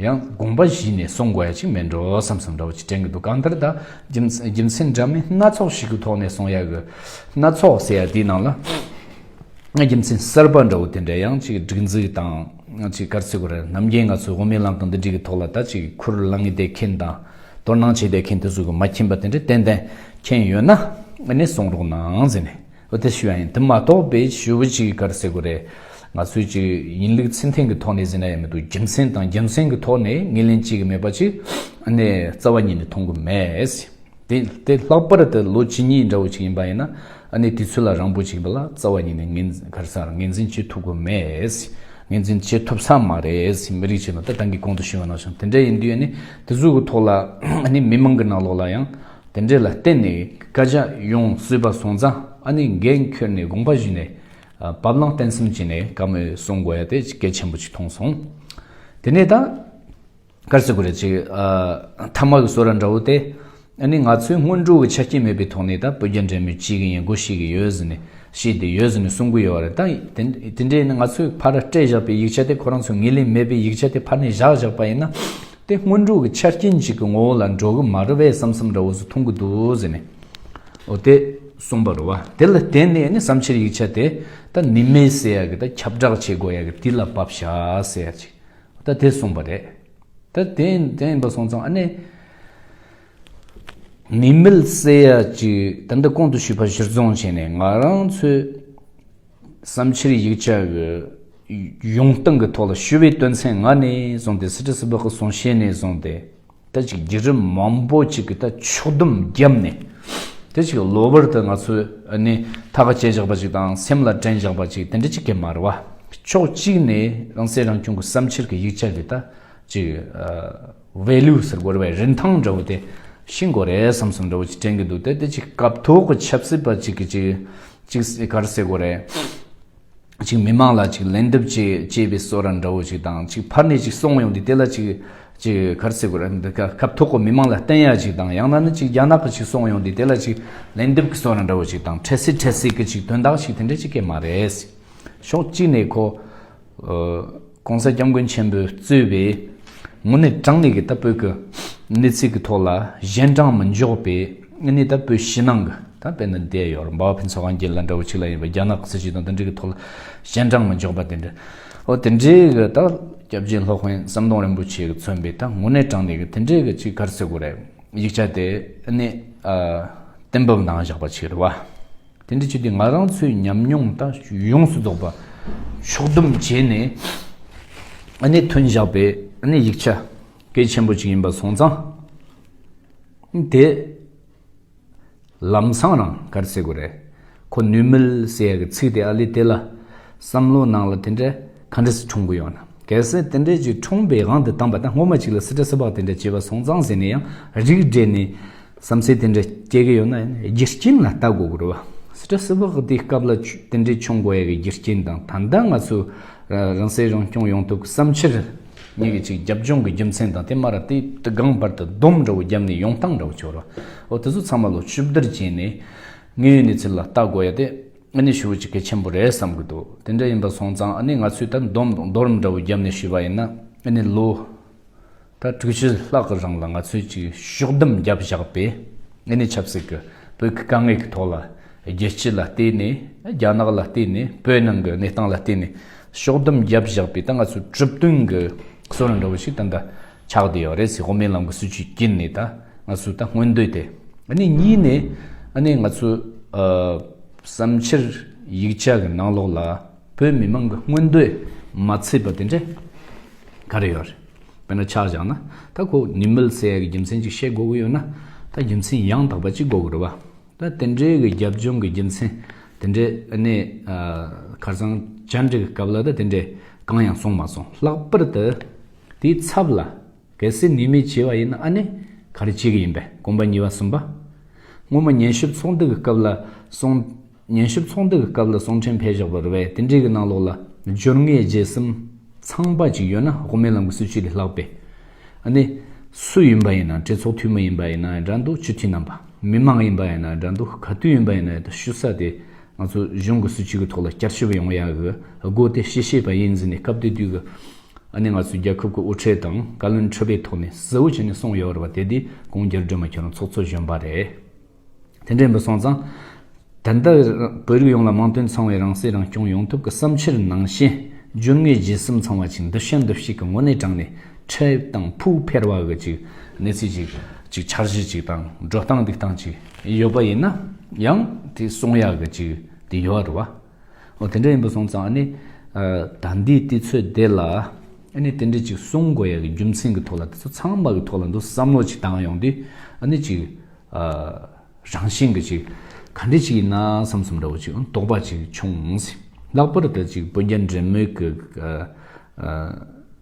ཡང་དགོངས་པ་གཞི་ནས་གསུང་དགོས་ཡ་གཅིག་མེད་འགྲོ་བསམ་བསམ་འདྲ་བོ་གཅིག་དྲན་གི་འདུག་གང་ལྟར་ད་རྒྱུ་མཚན་འདྲ་མིན་སྣ་ཚོགས་ཞིག་གི་ཐོག་ནས་གསུང་ཡ་གི། སྣ་ཚོགས་ཟེར་ཡ་དེའི་ནང་ལ་རྒྱུ་མཚན་གསར་པ་འདྲ་བོ་དེ་འདྲ་ཡང་གཅིག་སྒྲིག་འཛུགས་དང་གཅིག་སྐར་ཚོད་དགུ་རེར་ནམ་རྒྱུན་ང་ཚོས་དབུ་མའི་ལམ་དང་འདི་འདྲི་གི་ཐོག་ལ་ད་གཅིག་ཁུར་བླངས་ངེས་བསྡད་མཁན་དང་དོ་སྣང་བྱེད་བསྡད་མཁན་དེ་ཚོ་གི་མ་མཁྱེན་པ་དེ་འདྲ་ཏན་ཏན་མཁྱེན་ཡོད་ན་ཨ་ནི་གསུང་རོགས་གནང་ཟེར་ནས། འོ་དེ་ཞུ་ཡ་ཡིན་དེ་མ་གཏོགས་པའི་ཞུ་བ་ཅིག་ག་རེ་ཟེར་དགོས་རེད། ང་ཚོས་ཅིག་ཡིན་ལུགས་ཚིག་འཐེན་གི་ཐོག་ནས་ཟེར་ན་ཡ་མི་འདུག་རྒྱུ་མཚན་དང་རྒྱུ་མཚན་གི་ཐོག་ནས་ངེས་ལེན་བྱེད་གི་མེད་པ་ཅིག་ཨ་ནེ་རྩ་བ་ཉིད་ནས་མཐོང་གི་མེད། དེ་དེ་ལྷག་པར་དུ་ལོ་བཅུ་གཉིས་འདྲ་བོ་ཅིག་ཡིན་པ་ཡིན་ན་ཨ་ནེ་དུས་ཚོད་ལ་རང་འབོད་བྱེད་གི་མེད་ལ་རྩ་བ་ཉིད་ནས་ངེས་ག་རེ་ཟེར་ངེས་འཛིན་བྱེད་ཐུབ་གི་མེད། ངེས་འཛིན་བྱེད་ཐུབ་ས་མ་རེད་མི་རིགས་ཆེད་ལ་ད་ཏང་གི་གོང་དུ་ཞུ་བ་གནང་བྱུང་དེ་འདྲ་ཡིན་དུས་ཨ་ནེ་དེ་ཟུར་གི་ཐོག་ལ་ཨ་ནེ་མི་མང་གི་ནང་ལོགས་ལ་ཡང། དེ་འདྲས་ལ་བརྟེན་ནས་བཀའ་རྒྱ་ཡོངས་སུས་པ་སོང་ཙང་ཨ་ནི་འགན་ཁྱོད་ནས་དགོངས་པ་བཞེས་ནས་བབ་བླང་བརྟན་གསུམ་བྱས་ནས་བཀའ་མོལ་གསུང་དགོས་ཡ་དེ་གལ་ཆེན་པོ་ཅིག་མཐོང་སོང། དེ་ནས་ད་གར་བྱེད་དགོས་རེད་ཅིག་མཐའ་མ་གི་བཟོ་ར་འདྲ་བོ་དེ་ཨ་ནི་ང་ཚོའི་སྔོན་འགྲོ་གི་ཆ་རྐྱེན་མེད་པའི་ཐོག་ནས་ད་བོད་རྒྱ་འབྲེལ་མོལ་བྱེད་གི་ཡིན་སྒོ་ཤེས་གི་ཡོད་ཟེར་ནས་བཤད་དེ་ཡོད་ཟེར་ནས་གསུང་གི་ཡོད་རེད་ད་དེ་འདྲས་ནི་ང་ཚོའི་ཕར་སྤྲད་བཞག་པའི་ཡིག་ཆ་དེ་ཁོ་རང་ཚོ་ངེས་ལེན་མེད་པའི་ཡིག་ཆ་དེ་ཕར་ནས་བཞག་བཞག་པ་ཡིན་ན་དེ་སྔོན་འགྲོ་གི་ཆ་རྐྱེན་གཅིག་གི་ངོ་བོ་ལ་འགྲོ་གི་མ་རེད་བས་བསམ་བསམ་འདྲ་བོ་ཟོ་འཐུང་གི་འདུག་ཟེར་ནས། འོ་དེ་གསུངས་པར་རོ་བ། དེ་ལ་བརྟེན་ནས་ནི་བསམ་ཕྱིར་ཡིག་ཆ་དེ་ད་ནི་མེད་ཟེར་ཡག་གི་ད་ཁྱབ་བསྒྲགས་བྱེད་དགོས་ཡག་གི་དེ་ལ་བབ་བཞག་ཟེར་ཅིག་ད་དེ་གསུངས་པ་རེད། ད་དེ་དེ་ཡིན་པ་སོང་ཙང་ཨ་ནེ། མི་མེད་ཟེར་ཡག་ཅིག་ད་འདི་ཁོང་དུ་ཞུས་པ་གཞིར་བཟུང་བྱས་ནས་ང་རང་ཚོས། བསམ་འཆར་ཡིག་ཆ་ཡོང་སྟངས་ཀྱི་ཐོག་ལ་ཞུ་བའི་དོན་ཚན་ལྔ་ནས་བཟུང་སྟེ་སི་ཁྲི་སི་སྦག་གི་གསུང་བཤད་ནས་བཟུང་སྟེ། ད་ཅིག་བརྒྱུད་རིམ་མང་པོ་ཅིག་གི་ད་ཕྱོགས་བསྡོམས་བརྒྱབ་ནས། དེ་ཅིག་གློ་བུར་དུ་ང་ཚོས་ནི་ཐ་ག་དཔྱད་བཞག་པ་ཅིག་དང་སེམས་ལ་དྲན་བཞག་པ་ཅིག་དེ་འདྲ་ཅིག་གི་མར་བ། ཕྱོགས་གཅིག་ནས་རང་སྲིད་རང་སྐྱོང་གི་བསམ་འཆར་གྱི་ཡིག་ཆ་འདི་ད་ཅིག། བའི་ལུས་སུ་བསྒོར་བའི་རིན་ཐང་འདྲ་བོ་དེ་ཤི་འགོ་རེད་བསམ་བསམ་འདྲ་བོ་ཅིག་དྲན་གྱི་འདུག་དེ་དེ་ཅིག་སྐབས་ཐོག་གི་ཆབ་སྲིད་པ་ཅིག་གིས་ཅིག་གར་སེ་གོ་རེད། ཅིག་མི་མང་ལ་ཅིག་ལན་འདེབས་ཅེས་སྐྱེས་པའི་སོ་ར་འདྲ་བོ་ཅིག་དང་ཅིག་ཕར་ནས་ཅིག་སོང་ཡོང་དུས་དེ་ལ་ཅིག་གར་སེ་གོ་རེད། སྐབས་ཐོག་གི་མི་མང་ལ་བསྟན་ཡག་ཅིག་དང་ཡང་ན་ནི་ཅིག་རྒྱ་ནག་གི་ཅིག་སོང་ཡོང་དུས་དེ་ལ་ཅིག་ལན་འདེབས་ཀྱི་སོ་ར་འདྲ་བོ་ཅིག་དང་འཕྲད་སྲིད་འཕྲད་སྲིད་ཀྱི་ཅིག་དོན་དག་ཅིག་དེ་འདྲ་ཅིག་གི་མ་རེད། ཕྱོགས་གཅིག་ནས་ཁོ། ྋགོང་ས ྋསྐྱབས་མགོན་ཆེན་པོས་གཙོས་པའི་ངོས་ནས་དྲང་ལས་ཀྱི་ལྟ་སྤོད་ཀྱི་གནས་ཚུལ་གྱི་ཐོག་ལ་གཞན་དྲང་མི་འཇོག་པའི་གནས་ལྟ་སྤོད་ཕྱི་ནང་གི་ད་དཔེར་ན་འདས་ཡོར་འབའ་བ་ཕུན་ཚོགས་གངས་རྒྱན་ལ་འདྲ་བོ་གཅིག་ལ་ཡིན་པ་རྒྱ་ནག་གི་སྲིད་བྱུས་དང་མཐུན་འབྲེལ་གྱི་ཐོག་ལ་གཞན་དྲང་མི་འཇོག་པ་དེ་འདྲ་ཨོ་དེ་འདྲའི་གི་ད་སྐྱབས་རྗེ ྋསློབ་དཔོན་ཟམ་གདོང་རིན་པོ་ཆེས་གི་མཚོན་པའི་ད་ངོས་ནས་དྲང་ལས་ཀྱི་དེ་འདྲའི་གི་གཅིག་གར་ཚེ་གོ་རེ་ཡིག་ཆ་དེ་ནི་གཏན་ཕབ་ནང་བཞག་པ་ཆིག་རེད་བ། དེ་འདྲ་བྱས་ཏེ་ང་རང་ཚོའི་ཉམས་མྱོང་དང་ཡོངས་སུ་རྫོགས་པ་ཕྱོགས་བསྡོམས་བྱས་ནས་གནད་དོན་བཞག་པའི་ཡིག་ཆ་གལ་ཆེན་པོ་ཅིག་ཡིན་པ་སོང་ཙང་དེ་ལམ་སང་རང་གར་བསྲེ་དགོས་རེད། ཁོ་ནུས་མེད་བསྲེ་ཡག་གི་ཚིག་དེ་ཨ་ལི་དེ་ལ་བསམ་བློ་གནང་ལ་དེ་འདྲ། ག་འདྲ་སི་འཁྲུངས་གི་ཡོད་ན། གལ་སྲིད་དེ་འདྲའི་རྒྱུ་འཁྲུངས་པའི་དབང་དུ་བཏང་པ་ད་སྔོན་མ་ཅིག་ལ་སི་ཏྲ་སི་པགས་དེ་འདྲ་བྱས་པ་སོང་ཙང་ཟེར་ནས་ཡང་རིགས་བསྒྲེས་ནས། བསམ་ཚུལ་དེ་འདྲ་སྐྱེ་གི་ཡོད་ན་ཡང་རྒྱུ་རྐྱེན་ལ་ལྟ་དགོས་ཀི་རེད་བ། སི་ཏྲ་སི་པགས་དེའི་སྐབས་ལ་དེ་འདྲའི་འཁྱོངས་དགོས་ཡ་གི་རྒྱུ་རྐྱེན་དང་ད་ལྟ་ང་ཚོས་རང་སྲེག་རང་སྐྱོང་ཡོང་ཐུབ་གི་བསམ་ཕྱིར། ཉིན་གཅིག་རྒྱབ་ལྗོངས་ཀི་རྒྱུ་མཚན་དང་དེ་སྨ་ར་ཏི་ཏི་སྒང་བར་དུ་སྡོམ་འདྲ་བོ་བརྒྱབ་ནས་ཡོང་སྟངས་འདྲ་བོ་བྱུང་ར་བ། འོ་དེ་ཚོ་ཚང་མ་ལོ་བཅུ་བདུར་བརྒྱད་ནས་ངའི་གནས་ཚུལ་ལ་ལྟ་དགོས་ཡ་དེ། ཨ་ནི་ཞུ་བ་ཅིག་གལ་ཆེན་པོ་རེད་བསམ་གྱི་འདུག་དེ་འདྲ་ཡིན་པ་སོང་ཙང་ཨ་ནི་ང་ཚོས་ད་འདོམས་དང་རྡོ་རིང་འདྲ་བོ་བརྒྱབ་ནས་ཞུས་པ་ཡིན་ན་ཨ་ནི་ལོ་ད་དྲུག་ཅུ་ལྷག་གི་རིང་ལ་ང་ཚོས་ཅིག་ཤོག་འདོམས་བརྒྱབ་བཞག་པས་ཨ་ནི་ཆབ་སྲིད་ཀྱི་བོད་ཀྱི་དཀའ་ངལ་གྱི་ཐོག་ལ་རྒྱལ་སྤྱི་ལ་བལྟས་ནས་རྒྱ་ནག་ལ་བལྟས་ནས་བོད་ནང་གི་གནས་སྟངས་ལ་བལྟས་ནས་ཤོག་འདོམས་བརྒྱབ་བཞག་པས་ད་ང་ཚོས་གྲུབ་དོན་གྱི་གསོ་རིག་འདྲ་བོ་ཞིག་ད་ལྟ་ཆགས་དེ་ཡོད་རེད་སི་ཧོ་མེན་ལམ་གི་སྲིད་བྱུས་ཀྱིན་ནི་ད་ང་ཚོས་ད་སྔོན་འདོད་དེ། ནི་གཉིས་ནི། ནི་ང་ཚོས། བསམ་འཆར་ཡིག་ཆ་གི་ནང་ལོགས་ལ་བོད་མི་མང་གི་སྔོན་འདོད་མ་ཚིག་པ་དེ་འདྲ་ག་རེ་ཡོད་རེད། དཔེར་ན་ཆགས་བཞག་ན་ད་ཁོ་ནི་མི་ལ་སེ་ཡ་གི་རྒྱུ་མཚན་གཅིག་བཤད་དགོས་ཀྱི་ཡོད་ན་ད་རྒྱུ་མཚན་ཡང་དག་པ་གཅིག་དགོས་ཀྱི་རེད་བ། ད་དེ་འདྲའི་གི་རྒྱབ་ལྗོངས་གི་རྒྱུ་མཚན་དེ་འདྲ་ནི། ཁར་སང་བཅར་འདྲི་གི་སྐབས་ལ་ད་དེ་འདྲའི་གང་ཡང་གསུངས་མ་སོང་ལྷག་པར་དུ། དེའི་ཚབ་ལ། གལ་སྲིད་ནུས་མེད་བྱས་པ་ཡིན་ན་ཨ་ནི་ག་རེ་བྱེད་ཀྱི་ཡིན་པས་གོམ་པ་ཉིས་བ་གསུམ་པ། སྔོན་མ་ཉན་ཞིབ་ཚོགས་འདུ་གི་སྐབས་ལ་སོང། ཉན་ཞིབ་ཚོགས་འདུ་གི་སྐབས་ལ་སོང་ཕྲན་བྷེ་བཞག་པ་རེད་བས་དེ་འབྲེལ་གྱི་ནང་ལོགས་ལ། སྦྱོར་ངའི་རྗེས་སུམ། ཚངས་པ་ཅིག་ཡོད་ན་དབུ་མའི་ལམ་གྱི་སྲིད་བྱུས་དེ་ལྷག་པས། ཨ་ནི། སུ་ཡིན་པ་ཡིན་ན་གྲོས་ཚོགས་འཐུས་མི་ཡིན་པ་ཡིན་ན་འདྲ་འདུག་སྤྱི་འཐུས་རྣམ་པ། མི་མང་ཡིན་པ་ཡིན་ན་འདྲ་འདུག་ག་དུས་ཡིན་པ་ཡིན་ན་ཡོད་དོ་ཞུ་ས་དེ། ང་ཚོ་གཞུང་གི་སྲིད་བྱུས་ཀྱི་ཐོག་ལ་བསྐྱར་ཞིབ་ཡོང་ཡག་གི་སྒོ་དེ་ཤེས་ཤེས་པ་ཡིན་ཟེར་ནས་སྐབས་དེ་དུས་ཀྱི། ཨ་ནེ་ང་ཚོས་རྒྱལ་ཁབ་ཀྱི་དབུ་ཁྲིད་དང་བཀའ་བློན་ཁྲི་པའི་ཐོག་ནས་གཟི་འོད་བྱིན་ནས་སོང་ཡོད་རེད་པ་དེ་དུས་གུང་རྒྱལ་སྒྲོལ་མ་ཁྱེད་རང་ཚོགས་གཙོ་གཞོན་པ་རེད། དེ་འདྲས་འབུ་སོང་ཙང། ད་ལྟ་བོད་རིགས་ཡོངས་ལ་དམངས་དོན་ཚང་བའི་རང་སྲིད་རང་སྐྱོང་ཡོང་ཐུབ་ཀྱི་བསམ་འཆར་ནང་བཞིན་སྒྱུར་ངེས་རྗེས་གསུམ་ཚང་བ་ཅིག་འདུ་ཤེས་འདུ་ཤེས་ཀྱི་ངོ་ནས་དྲངས་ནས་ཁྲལ་དང་ཕུགས་འཕེར་བ་གི་ཅིག་གནས་ཚུལ་ཅིག་ཅིག་འཆར་གཞི་ཅིག་དང་འགྲོ་སྟངས་འདུག་སྟངས་ཅིག་ཡོད་པ་ཡིན་ན་ཡང་དེ་གསུང་ཡག་གི་ཅིག་དེ་ཡོད་རེད་བ། འོ་དེ་འདྲ་ཡིན་པ་སོང་ཙང་ནི། ད་འདིའི་ལྟི་ཚོད་དེ་ལ། ནི་དེ་འདྲའི་ཅིག་གསུང་དགོས་ཡ་གི་རྒྱུ་མཚན་གི་ཐོག་ལ་དེ་ཚོ་ཚང་མ་གི་ཐོག་ལ་འདུ་བསམ་བློ་ཅིག་བཏང་ཡོང་དུས། ནི་ཅིག། རང་བཞིན་གི་ཅིག། ག་འདྲི་ཅིག་ཡིན་ན་བསམ་སོམ་འདྲ་བོ་ཅིག་དོགས་པ་ཅིག་བྱུང། ལྷག་པར་དུ་ཅིག་བོད་རྒྱ་འབྲེལ་མོལ་གི།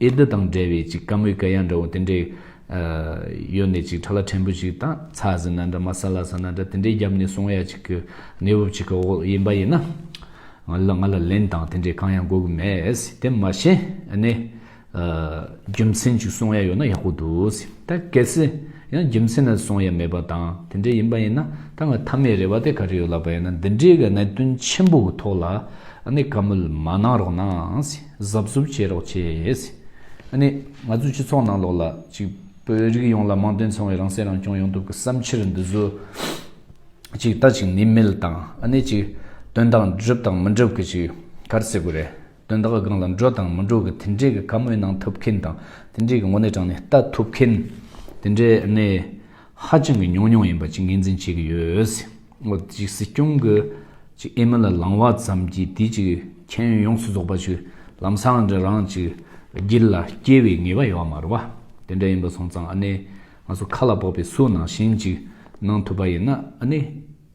ཨེ་འདི་དང་འབྲེལ་བའི་ཅིག་ཀ་མུས་ཀ་ཡ་འདྲ་བོ་དེ་འདྲའི། གཡོན་ནས་ཅིག་ཁྲ་ལ་ཕྲན་བུ་ཞིག་དང་ཚ་ཟི་ན་འདྲ་མ་ས་ལ་ས་ན་འདྲ་དེ་འདྲའི་རྒྱབ་ནས་སོང་ཡ་ཅིག་གི་གནས་བབ་ཅིག་གི་འོག་ཡིན་པ་ཡིན་ན། ང་ལ་ལན་དང་དེ་འདྲའི་གང་ཡང་དགོས་གི་མེད། དེ་མ་ཤེས་ནས། རྒྱུ་མཚན་ཅིག་སོང་ཡ་ཡོད་ན་ཡག་པོ་འདུག་ད་གལ་སྲིད་ཡང་རྒྱུ་མཚན་ན་སོང་ཡ་མེད་པ་དང་དེ་འདྲའི་ཡིན་པ་ཡིན་ན་ད་ང་ཐ་མའི་རེ་བ་དེ་ག་རེ་ཡོད་ལབ་པ་ཡིན་ན་འདི་འདྲའི་གི་གནད་དོན་ཆེན་པོ་གི་ཐོག་ལ་ཨ་ནི་བཀའ་མོལ་མ་གནང་རོགས་གནང། གཟབ་གཟུབ་བྱེད་རོགས་བྱེད། ནི། ང་ཚོའི་སྤྱི་ཚོགས་ནང་ལོགས་ལ་གཅིག། བོད་རིགས་ཡོངས་ལ་དམངས་དོན་ཚང་བའི་རང་སྲེག་རང་སྐྱོང་ཡོང་ཐུབ་ཀྱི་བསམ་འཆར་འདི་བཟོ། གཅིག་ལྟ་ཅིག་ནི་མེད་ལ་དང། ནི་གཅིག། དོན་དག་འགྲུབ་དང་མི་འགྲུབ་ཀྱི་གཅིག། གར་སེ་གུ་རེད། དོན་དག་སྒང་ལ་འགྲོ་དང་མི་འགྲོ་གི་དེ་འདྲའི་གི་ག་མོའི་ནང་ཐུབ་མཁན་དང། དེ་འདྲའི་གི་ངོ་ནས་དྲང་ནས་ལྟ་ཐུབ་མཁན། དེ་འདྲའི་ནི། ཧ་ཅང་གི་ཉུང་ཉུང་ཡིན་པ་ཅིག་ངེས་འཛིན་བྱེད་ཀྱི་ཡོད། མོ་ཅིག་སྲིད་སྐྱོང་གི་ཅིག་ཨེ་མི་ལ་ལང་བ་ཙམ་གྱིས་དེ་ཅིག་མཁྱེན་ཡོན་ཡོངས་སུ་རྫོགས་པ་ཅིག་ལམ་སང་འདྲི་རང་ཅིག་སྒྱིད་ལ་སྐྱེ་བའི་ངེས་པ་ཡོད་བ་མ་རེད་བ། དེ་འདྲ་ཡིན་པ་སོང་ཙང་ཨ་ནེ་ང་ཚོ་ཁ་ལ་བོགས་པའི་སུ་ནང་བཞིན་ཅིག་གནང་ཐུབ་པ་ཡིན་ན་ཨ་ནེ།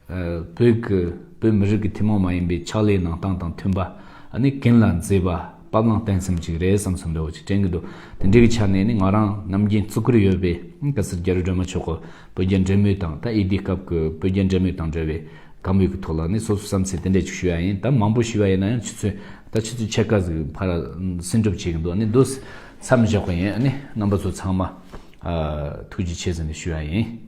བོད་ཀྱི་བོད་མི་རིགས་ཀྱི་ཐུན་མོང་མ་ཡིན་པའི་ཕྱག་ལས་གནང་སྟངས་དང་མཐུན་པ། ནི་གན་ལ་མཛེས་པ་དཔའ་བླང་བརྟན་སེམས་ཅིག་རེད་བསམ་བསམ་རེ་བོ་ཅིག་དྲན་གྱི་འདུག་དེ་འདྲའི་གི་ཆ་ནས་ནི་ང་རང་རྣམ་རྒྱལ་གཙུག་གུར་ཡོད་པའི་སྐབས་སུ་རྒྱ་རི་སྒྲོལ་མ་མཆོག་གི་བོད་རྒྱ་འབྲེལ་མོལ་དང་ད་ཨེ་ལྡི་སྐབས་ཀྱི་བོད་རྒྱ་འབྲེལ་མོལ་དང་འབྲེལ་བའི་དགའ་མོས་ཀྱི་ཐོག་ལ་ནི་སོ་སོ་བསམ་ཚེ་དེ་འདྲས་ཅིག་ཞུ་ཡ་ཡིན་ད་མང་པོ་ཞུ་ཡ་ཡིན་ན་ཡང་ཆུ་ཚོད་ད་ཆུ་ཚོད་ཕྱེད་ཀ་ཟིག་ཕར་སེམས་སྒྲུབ་བྱེད་ཀྱི་འདུག་ནི་དུས་མཚམས་བཞག་པ་ཡིན་ནི་རྣམ་པ་ཚོ་ཚང་མ་ཐུགས་རྗེ་ཆེ་ཟེར་ནས་ཞུ་ཡ་ཡིན།